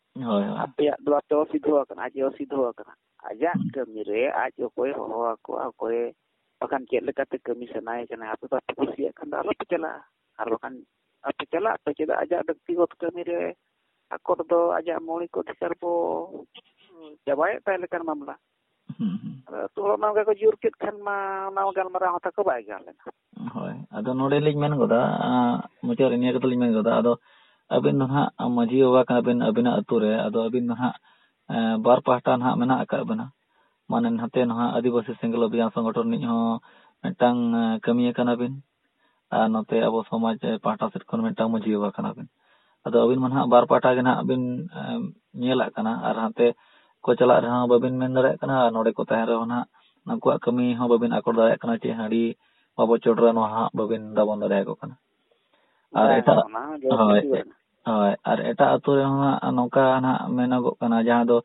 ᱦᱳᱭ ᱟᱯᱮᱭᱟᱜ ᱫᱚ ᱟᱯᱮ ᱚᱥᱤᱫᱷᱚ ᱟᱠᱟᱱᱟ ᱟᱡ ᱚᱥᱤᱫᱷᱚ ᱟᱠᱟᱱᱟ ᱟᱡᱟᱜ ᱠᱟᱹᱢᱤ ᱨᱮ ᱟᱡ ᱚᱠᱚᱭ ᱦᱚᱦᱚ ᱟᱠᱚ ᱚᱠᱚᱭ ᱵᱟᱠᱷᱟᱱ ᱪᱮᱫ ᱞᱮᱠᱟᱛᱮ ᱠᱟᱹᱢᱤ ᱥᱟᱱᱟᱭᱮ ᱠᱟᱱᱟ ᱟᱯᱮ ᱵᱟᱯᱮ ᱠᱩᱥᱤᱭᱟᱜ ᱠᱷᱟᱱ ᱫᱚ ᱟᱞᱚᱯᱮ ᱪᱟᱞᱟᱜᱼᱟ ᱟᱨ ᱵᱟᱠᱷᱟᱱ ᱟᱯᱮ ᱪᱟᱞᱟᱜ ᱯᱮ ᱪᱮᱫᱟᱜ ᱟᱡᱟᱜ ᱵᱮᱠᱛᱤᱜᱚᱛ ᱠᱟᱹᱢᱤ ᱨᱮ ᱟᱠᱚ ᱫᱚ ᱟᱡᱟᱜ ᱢᱚᱬᱤᱠ ᱚᱫᱷᱤᱠᱟᱨ ᱵᱚ ᱪᱟᱵᱟᱭᱮᱫ ᱛᱟᱭ ᱞᱮᱠᱟᱱ ᱢᱟᱢᱞᱟ ᱟᱫᱚ ᱚᱱᱟ ᱜᱮᱠᱚ ᱡᱳᱨ ᱠᱮᱫ ᱠᱷᱟᱱ ᱢᱟ ᱚᱱᱟ ᱜᱟᱞᱢᱟᱨᱟᱣ ᱦᱚᱸ ᱛᱟᱠᱚ ᱵᱟᱭ ᱜᱟᱱ ᱞᱮᱱᱟ ᱦᱳᱭ ᱟᱫᱚ ᱱᱚᱰᱮ ᱞᱤᱧ ᱢᱮᱱ ᱜᱚᱫᱟ ᱢᱩᱪᱟᱹᱫ ᱨᱮ ᱱᱤᱭᱟᱹ ᱠᱟᱛᱷᱟ ᱞᱤᱧ ᱢᱮᱱ ᱜᱚᱫᱟ ᱟᱫᱚ ᱟᱹᱵᱤᱱ ᱫᱚ ᱦᱟᱸᱜ ᱢᱟᱺᱡᱷᱤ ᱵᱟᱵᱟ ᱠᱟᱱᱟ ᱵᱤᱱ ᱟᱹᱵᱤᱱᱟᱜ ᱟᱹᱛᱩ ᱨᱮ ᱟᱫᱚ ᱟᱹᱵᱤᱱ ᱫᱚ ᱦᱟᱸᱜ ᱵᱟᱨ ᱯᱟᱦᱴᱟ ᱦᱟᱸᱜ ᱢᱮᱱᱟᱜ ᱟᱠᱟᱫ ᱵᱤᱱᱟ ᱢᱟᱱᱮ ᱱᱟᱛᱮ ᱱᱟᱦᱟᱜ ᱟᱹᱫᱤᱵᱟᱹᱥᱤ ᱥᱮᱸᱜᱮᱞ ᱚᱵᱷᱤᱡᱟᱱ ᱥᱚᱝᱜᱚᱴᱷᱚᱱ ᱨᱤᱱᱤᱡ ᱦᱚᱸ ᱢᱤᱫᱴᱟᱝ ᱠᱟᱹᱢᱤᱭᱟᱹ ᱠᱟᱱᱟ ᱵᱤᱱ ᱟᱨ ᱱᱚᱛᱮ ᱟᱵᱚ ᱥᱚᱢᱟᱡᱽ ᱯᱟᱦᱴᱟ ᱥᱮᱫ ᱠᱷᱚᱱ ᱢᱤᱫᱴᱟᱝ ᱢᱟᱺᱡᱷᱤ ᱵᱟᱵᱟ ᱠᱟᱱᱟ ᱵᱤᱱ ᱟᱫᱚ ᱟᱹᱵᱤᱱ ᱢᱟ ᱱᱟᱦᱟᱜ ᱵᱟᱨ ᱯᱟᱦᱴᱟ ᱜᱮ ᱱᱟᱦᱟᱜ ᱵᱤᱱ ᱧᱮᱞᱟᱜ ᱠᱟᱱᱟ ᱟᱨ ᱦᱟᱱᱛᱮ ᱠᱚ ᱪᱟᱞᱟᱜ ᱨᱮᱦᱚᱸ ᱵᱟᱹᱵᱤᱱ ᱢᱮᱱ ᱫᱟᱲᱮᱭᱟᱜ ᱠᱟᱱᱟ ᱟᱨ ᱱᱚᱸᱰᱮ ᱠᱚ ᱛᱟᱦᱮᱱ ᱨᱮᱦᱚᱸ ᱱᱟᱦᱟᱜ ᱩᱱᱠᱩᱣᱟᱜ ᱠᱟᱹᱢᱤ ᱦᱚᱸ ᱵᱟᱹᱵᱤᱱ ᱟᱠᱚᱴ ᱫᱟᱲᱮᱭᱟᱜ ᱠᱟᱱᱟ ᱪᱮ ᱦᱟᱺᱰᱤ ᱵᱟᱵᱚ ᱪᱚᱰᱚᱨᱟ ᱱᱚᱣᱟ ᱦᱟᱸᱜ ᱵᱟᱹᱵᱤᱱ ᱫᱟᱵᱚᱱ ᱫᱟᱲᱮᱭᱟᱠᱚ ᱠᱟᱱᱟ ᱟᱨ ᱮᱴᱟᱜ ᱦᱳᱭ ᱦᱳᱭ ᱟᱨ ᱮᱴᱟᱜ ᱟᱛᱳ ᱨᱮᱦᱚᱸ ᱦᱟᱸᱜ ᱱᱚᱝᱠᱟ ᱱᱟᱦᱟᱜ ᱢᱮᱱᱚᱜᱚᱜ ᱠᱟᱱᱟ ᱡᱟᱦᱟᱸ ᱫᱚ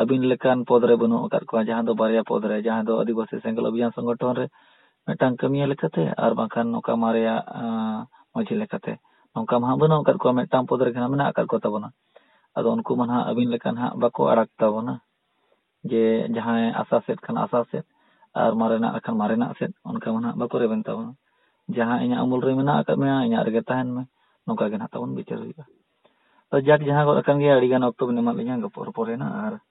ᱟᱹᱵᱤᱱ ᱞᱮᱠᱟᱱ ᱯᱚᱫᱽ ᱨᱮ ᱵᱟᱹᱱᱩᱜ ᱟᱠᱟᱫ ᱠᱚᱣᱟ ᱡᱟᱦᱟᱸ ᱫᱚ ᱵᱟᱨᱭᱟ ᱯᱚᱫᱽ ᱨᱮ ᱡᱟᱦᱟᱸ ᱫᱚ ᱟᱹᱫᱤᱵᱟᱹᱥᱤ ᱥᱮᱸᱜᱮᱞ ᱚᱵᱷᱤᱡᱟᱱ ᱥᱚᱝᱜᱚᱴᱷᱚᱱ ᱨᱮ ᱢᱤᱫᱴᱟᱝ ᱠᱟᱹᱢᱤᱭᱟᱹ ᱞᱮᱠᱟᱛᱮ ᱟᱨ ᱵᱟᱝᱠᱷᱟᱱ ᱱᱚᱝᱠᱟ ᱢᱟᱨᱮᱭᱟᱜ ᱢᱟᱺᱡᱷᱤ ᱞᱮᱠᱟᱛᱮ ᱚᱱᱠᱟ ᱢᱟ ᱦᱟᱸᱜ ᱵᱟᱹᱱᱩᱜ ᱟᱠᱟᱫ ᱠᱚᱣᱟ ᱢᱤᱫᱴᱟᱝ ᱯᱚᱫᱽ ᱨᱮᱜᱮ ᱦᱟᱸᱜ ᱢᱮᱱᱟᱜ ᱟᱠᱟᱫ ᱠᱚ ᱛᱟᱵᱚᱱᱟ ᱟᱫᱚ ᱩᱱᱠᱩ ᱢᱟ ᱦᱟᱸᱜ ᱟᱹᱵᱤᱱ ᱞᱮᱠᱟ ᱦᱟᱸᱜ ᱵᱟᱠᱚ ᱟᱲᱟᱜ ᱛᱟᱵᱚᱱᱟ ᱡᱮ ᱡᱟᱦᱟᱸᱭ ᱟᱥᱟ ᱥᱮᱫ ᱠᱷᱟᱱ ᱟᱥᱟ ᱥᱮᱫ ᱟᱨ ᱢᱟᱨᱮᱱᱟᱜ ᱠᱷᱟᱱ ᱢᱟᱨᱮᱱᱟᱜ ᱥᱮᱫ ᱚᱱᱠᱟ ᱢᱟ ᱦᱟᱸᱜ ᱵᱟᱠᱚ ᱨᱮᱵᱮᱱ ᱛᱟᱵᱚᱱᱟ ᱡᱟᱦᱟᱸ ᱤᱧᱟᱹᱜ ᱩᱢᱩᱞ ᱨᱮ ᱢᱮᱱᱟᱜ ᱟᱠᱟᱫ ᱢᱮᱭᱟ ᱤᱧᱟᱹᱜ ᱨᱮᱜᱮ ᱛᱟᱦᱮᱱ ᱢᱮ ᱱᱚᱝᱠᱟ ᱜᱮ ᱦᱟᱸᱜ ᱛᱟᱵᱚᱱ ᱵᱤᱪᱟᱹᱨ ᱦᱩᱭᱩᱜᱼᱟ ᱛᱚ ᱡᱟᱠ ᱡᱟᱦᱟᱸ ᱜᱚᱫ ᱟᱠᱟᱱ ᱜᱮᱭᱟ ᱟᱹᱰᱤ ᱜᱟᱱ ᱚᱠᱛᱚ ᱵᱤᱱ ᱮᱢᱟᱫ ᱞᱤᱧᱟᱹ ᱨᱚᱯᱚᱲ ᱨᱚᱯᱚᱲ ᱮᱱᱟ ᱟᱨ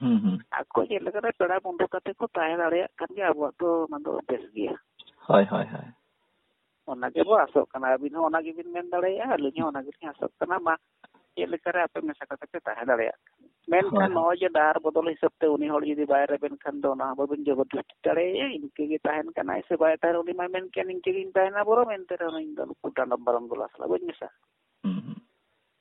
ᱦᱩᱸ ᱦᱩᱸ ᱟᱠᱚ ᱪᱮᱫ ᱞᱮᱠᱟᱨᱮ ᱯᱮᱲᱟ ᱵᱚᱱᱫᱷᱩ ᱠᱟᱛᱮ ᱠᱚ ᱛᱟᱦᱮᱸ ᱫᱟᱲᱮᱭᱟᱜ ᱠᱟᱱ ᱜᱮᱭᱟ ᱟᱵᱚᱣᱟᱜ ᱫᱚ ᱚᱱᱟ ᱫᱚ ᱵᱮᱥ ᱜᱮᱭᱟ ᱦᱳᱭ ᱦᱳᱭ ᱦᱳᱭ ᱚᱱᱟ ᱜᱮᱵᱚ ᱟᱥᱚᱜ ᱠᱟᱱᱟ ᱟᱹᱵᱤᱱ ᱦᱚᱸ ᱚᱱᱟ ᱜᱮᱵᱤᱱ ᱢᱮᱱ ᱫᱟᱲᱮᱭᱟᱜᱼᱟ ᱟᱹᱞᱤᱧ ᱦᱚᱸ ᱚᱱᱟ ᱜᱮᱞᱤᱧ ᱟᱥᱚᱜ ᱠᱟᱱᱟ ᱢᱟ ᱪᱮᱫ ᱞᱮᱠᱟᱨᱮ ᱟᱯᱮ ᱢᱮᱥᱟ ᱠᱟᱛᱮ ᱯᱮ ᱛᱟᱦᱮᱸ ᱫᱟᱲᱮᱭᱟᱜ ᱠᱟᱱᱟ ᱢᱮᱱᱠᱷᱟᱱ ᱱᱚᱜᱼᱚᱭ ᱡᱮ ᱰᱟᱦᱟᱨ ᱵᱚᱫᱚᱞ ᱦᱤᱥᱟᱹᱵ ᱛᱮ ᱩᱱᱤ ᱦᱚᱲ ᱡᱩᱫᱤ ᱵᱟᱭ ᱨᱮᱵᱮᱱ ᱠᱷᱟᱱ ᱫᱚ ᱚᱱᱟ ᱦᱚᱸ ᱵᱟᱹᱵᱤᱱ ᱡᱚᱵᱚᱨᱫᱚᱥᱛᱤ ᱫᱟᱲᱮᱭᱟᱭᱟ ᱤᱱᱠᱟᱹ ᱜᱮ ᱛᱟᱦᱮᱱ ᱠᱟᱱᱟᱭ ᱥᱮ ᱵᱟᱭ ᱛᱟᱦᱮᱱ ᱩᱱᱤ ᱢᱟᱭ ᱢᱮᱱ ᱠᱮᱭᱟ ᱱᱤᱝᱠᱟᱹ ᱜᱤᱧ ᱛᱟᱦᱮᱱᱟ ᱵᱚᱨᱚᱝ ᱮᱱᱛᱮ ᱨᱮᱦᱚᱸ ᱤᱧ ᱫᱚ ᱱᱩᱠᱩ ᱰᱟᱸᱰᱚᱢ ᱵᱟᱨᱚᱢ ᱜᱚᱞᱟ ᱥᱟᱞᱟᱜ ᱵᱟᱹᱧ ᱢᱮᱥᱟᱜᱼᱟ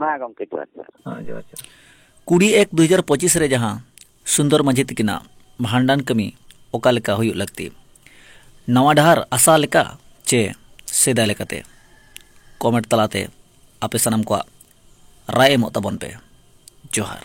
ᱢᱟ ᱜᱚᱢᱠᱮ ᱡᱚᱦᱟᱨ ᱡᱚᱦᱟᱨ ᱦᱮᱸ ᱡᱚᱦᱟᱨ ᱡᱚᱦᱟᱨ ᱠᱩᱲᱤ ᱮᱠ ᱫᱩ ᱦᱟᱡᱟᱨ ᱯᱚᱸᱪᱤᱥ ᱨᱮ ᱡᱟᱦᱟᱸ ᱥᱩᱱᱫᱚᱨ ᱢᱟᱹᱡᱷᱤ ᱛᱤᱠᱤᱱᱟᱜ ᱵᱷᱟᱸᱰᱟᱱ ᱠᱟᱹᱢᱤ ᱚᱠᱟ ᱞᱮᱠᱟ ᱦᱩᱭᱩᱜ ᱞᱟᱹᱠᱛᱤ ᱱᱟᱣᱟ ᱰᱟᱦᱟᱨ ᱟᱥᱟ ᱞᱮᱠᱟ ᱪᱮ ᱥᱮᱫᱟᱭ ᱞᱮᱠᱟᱛᱮ ᱠᱚᱢᱮᱱᱴ ᱛᱟᱞᱟᱛᱮ ᱟᱯᱮ ᱥᱟᱱᱟᱢ ᱠᱚᱣᱟᱜ ᱨᱟᱭ ᱮᱢᱚᱜ ᱛᱟᱵᱚᱱ ᱯᱮ ᱡᱚᱦᱟᱨ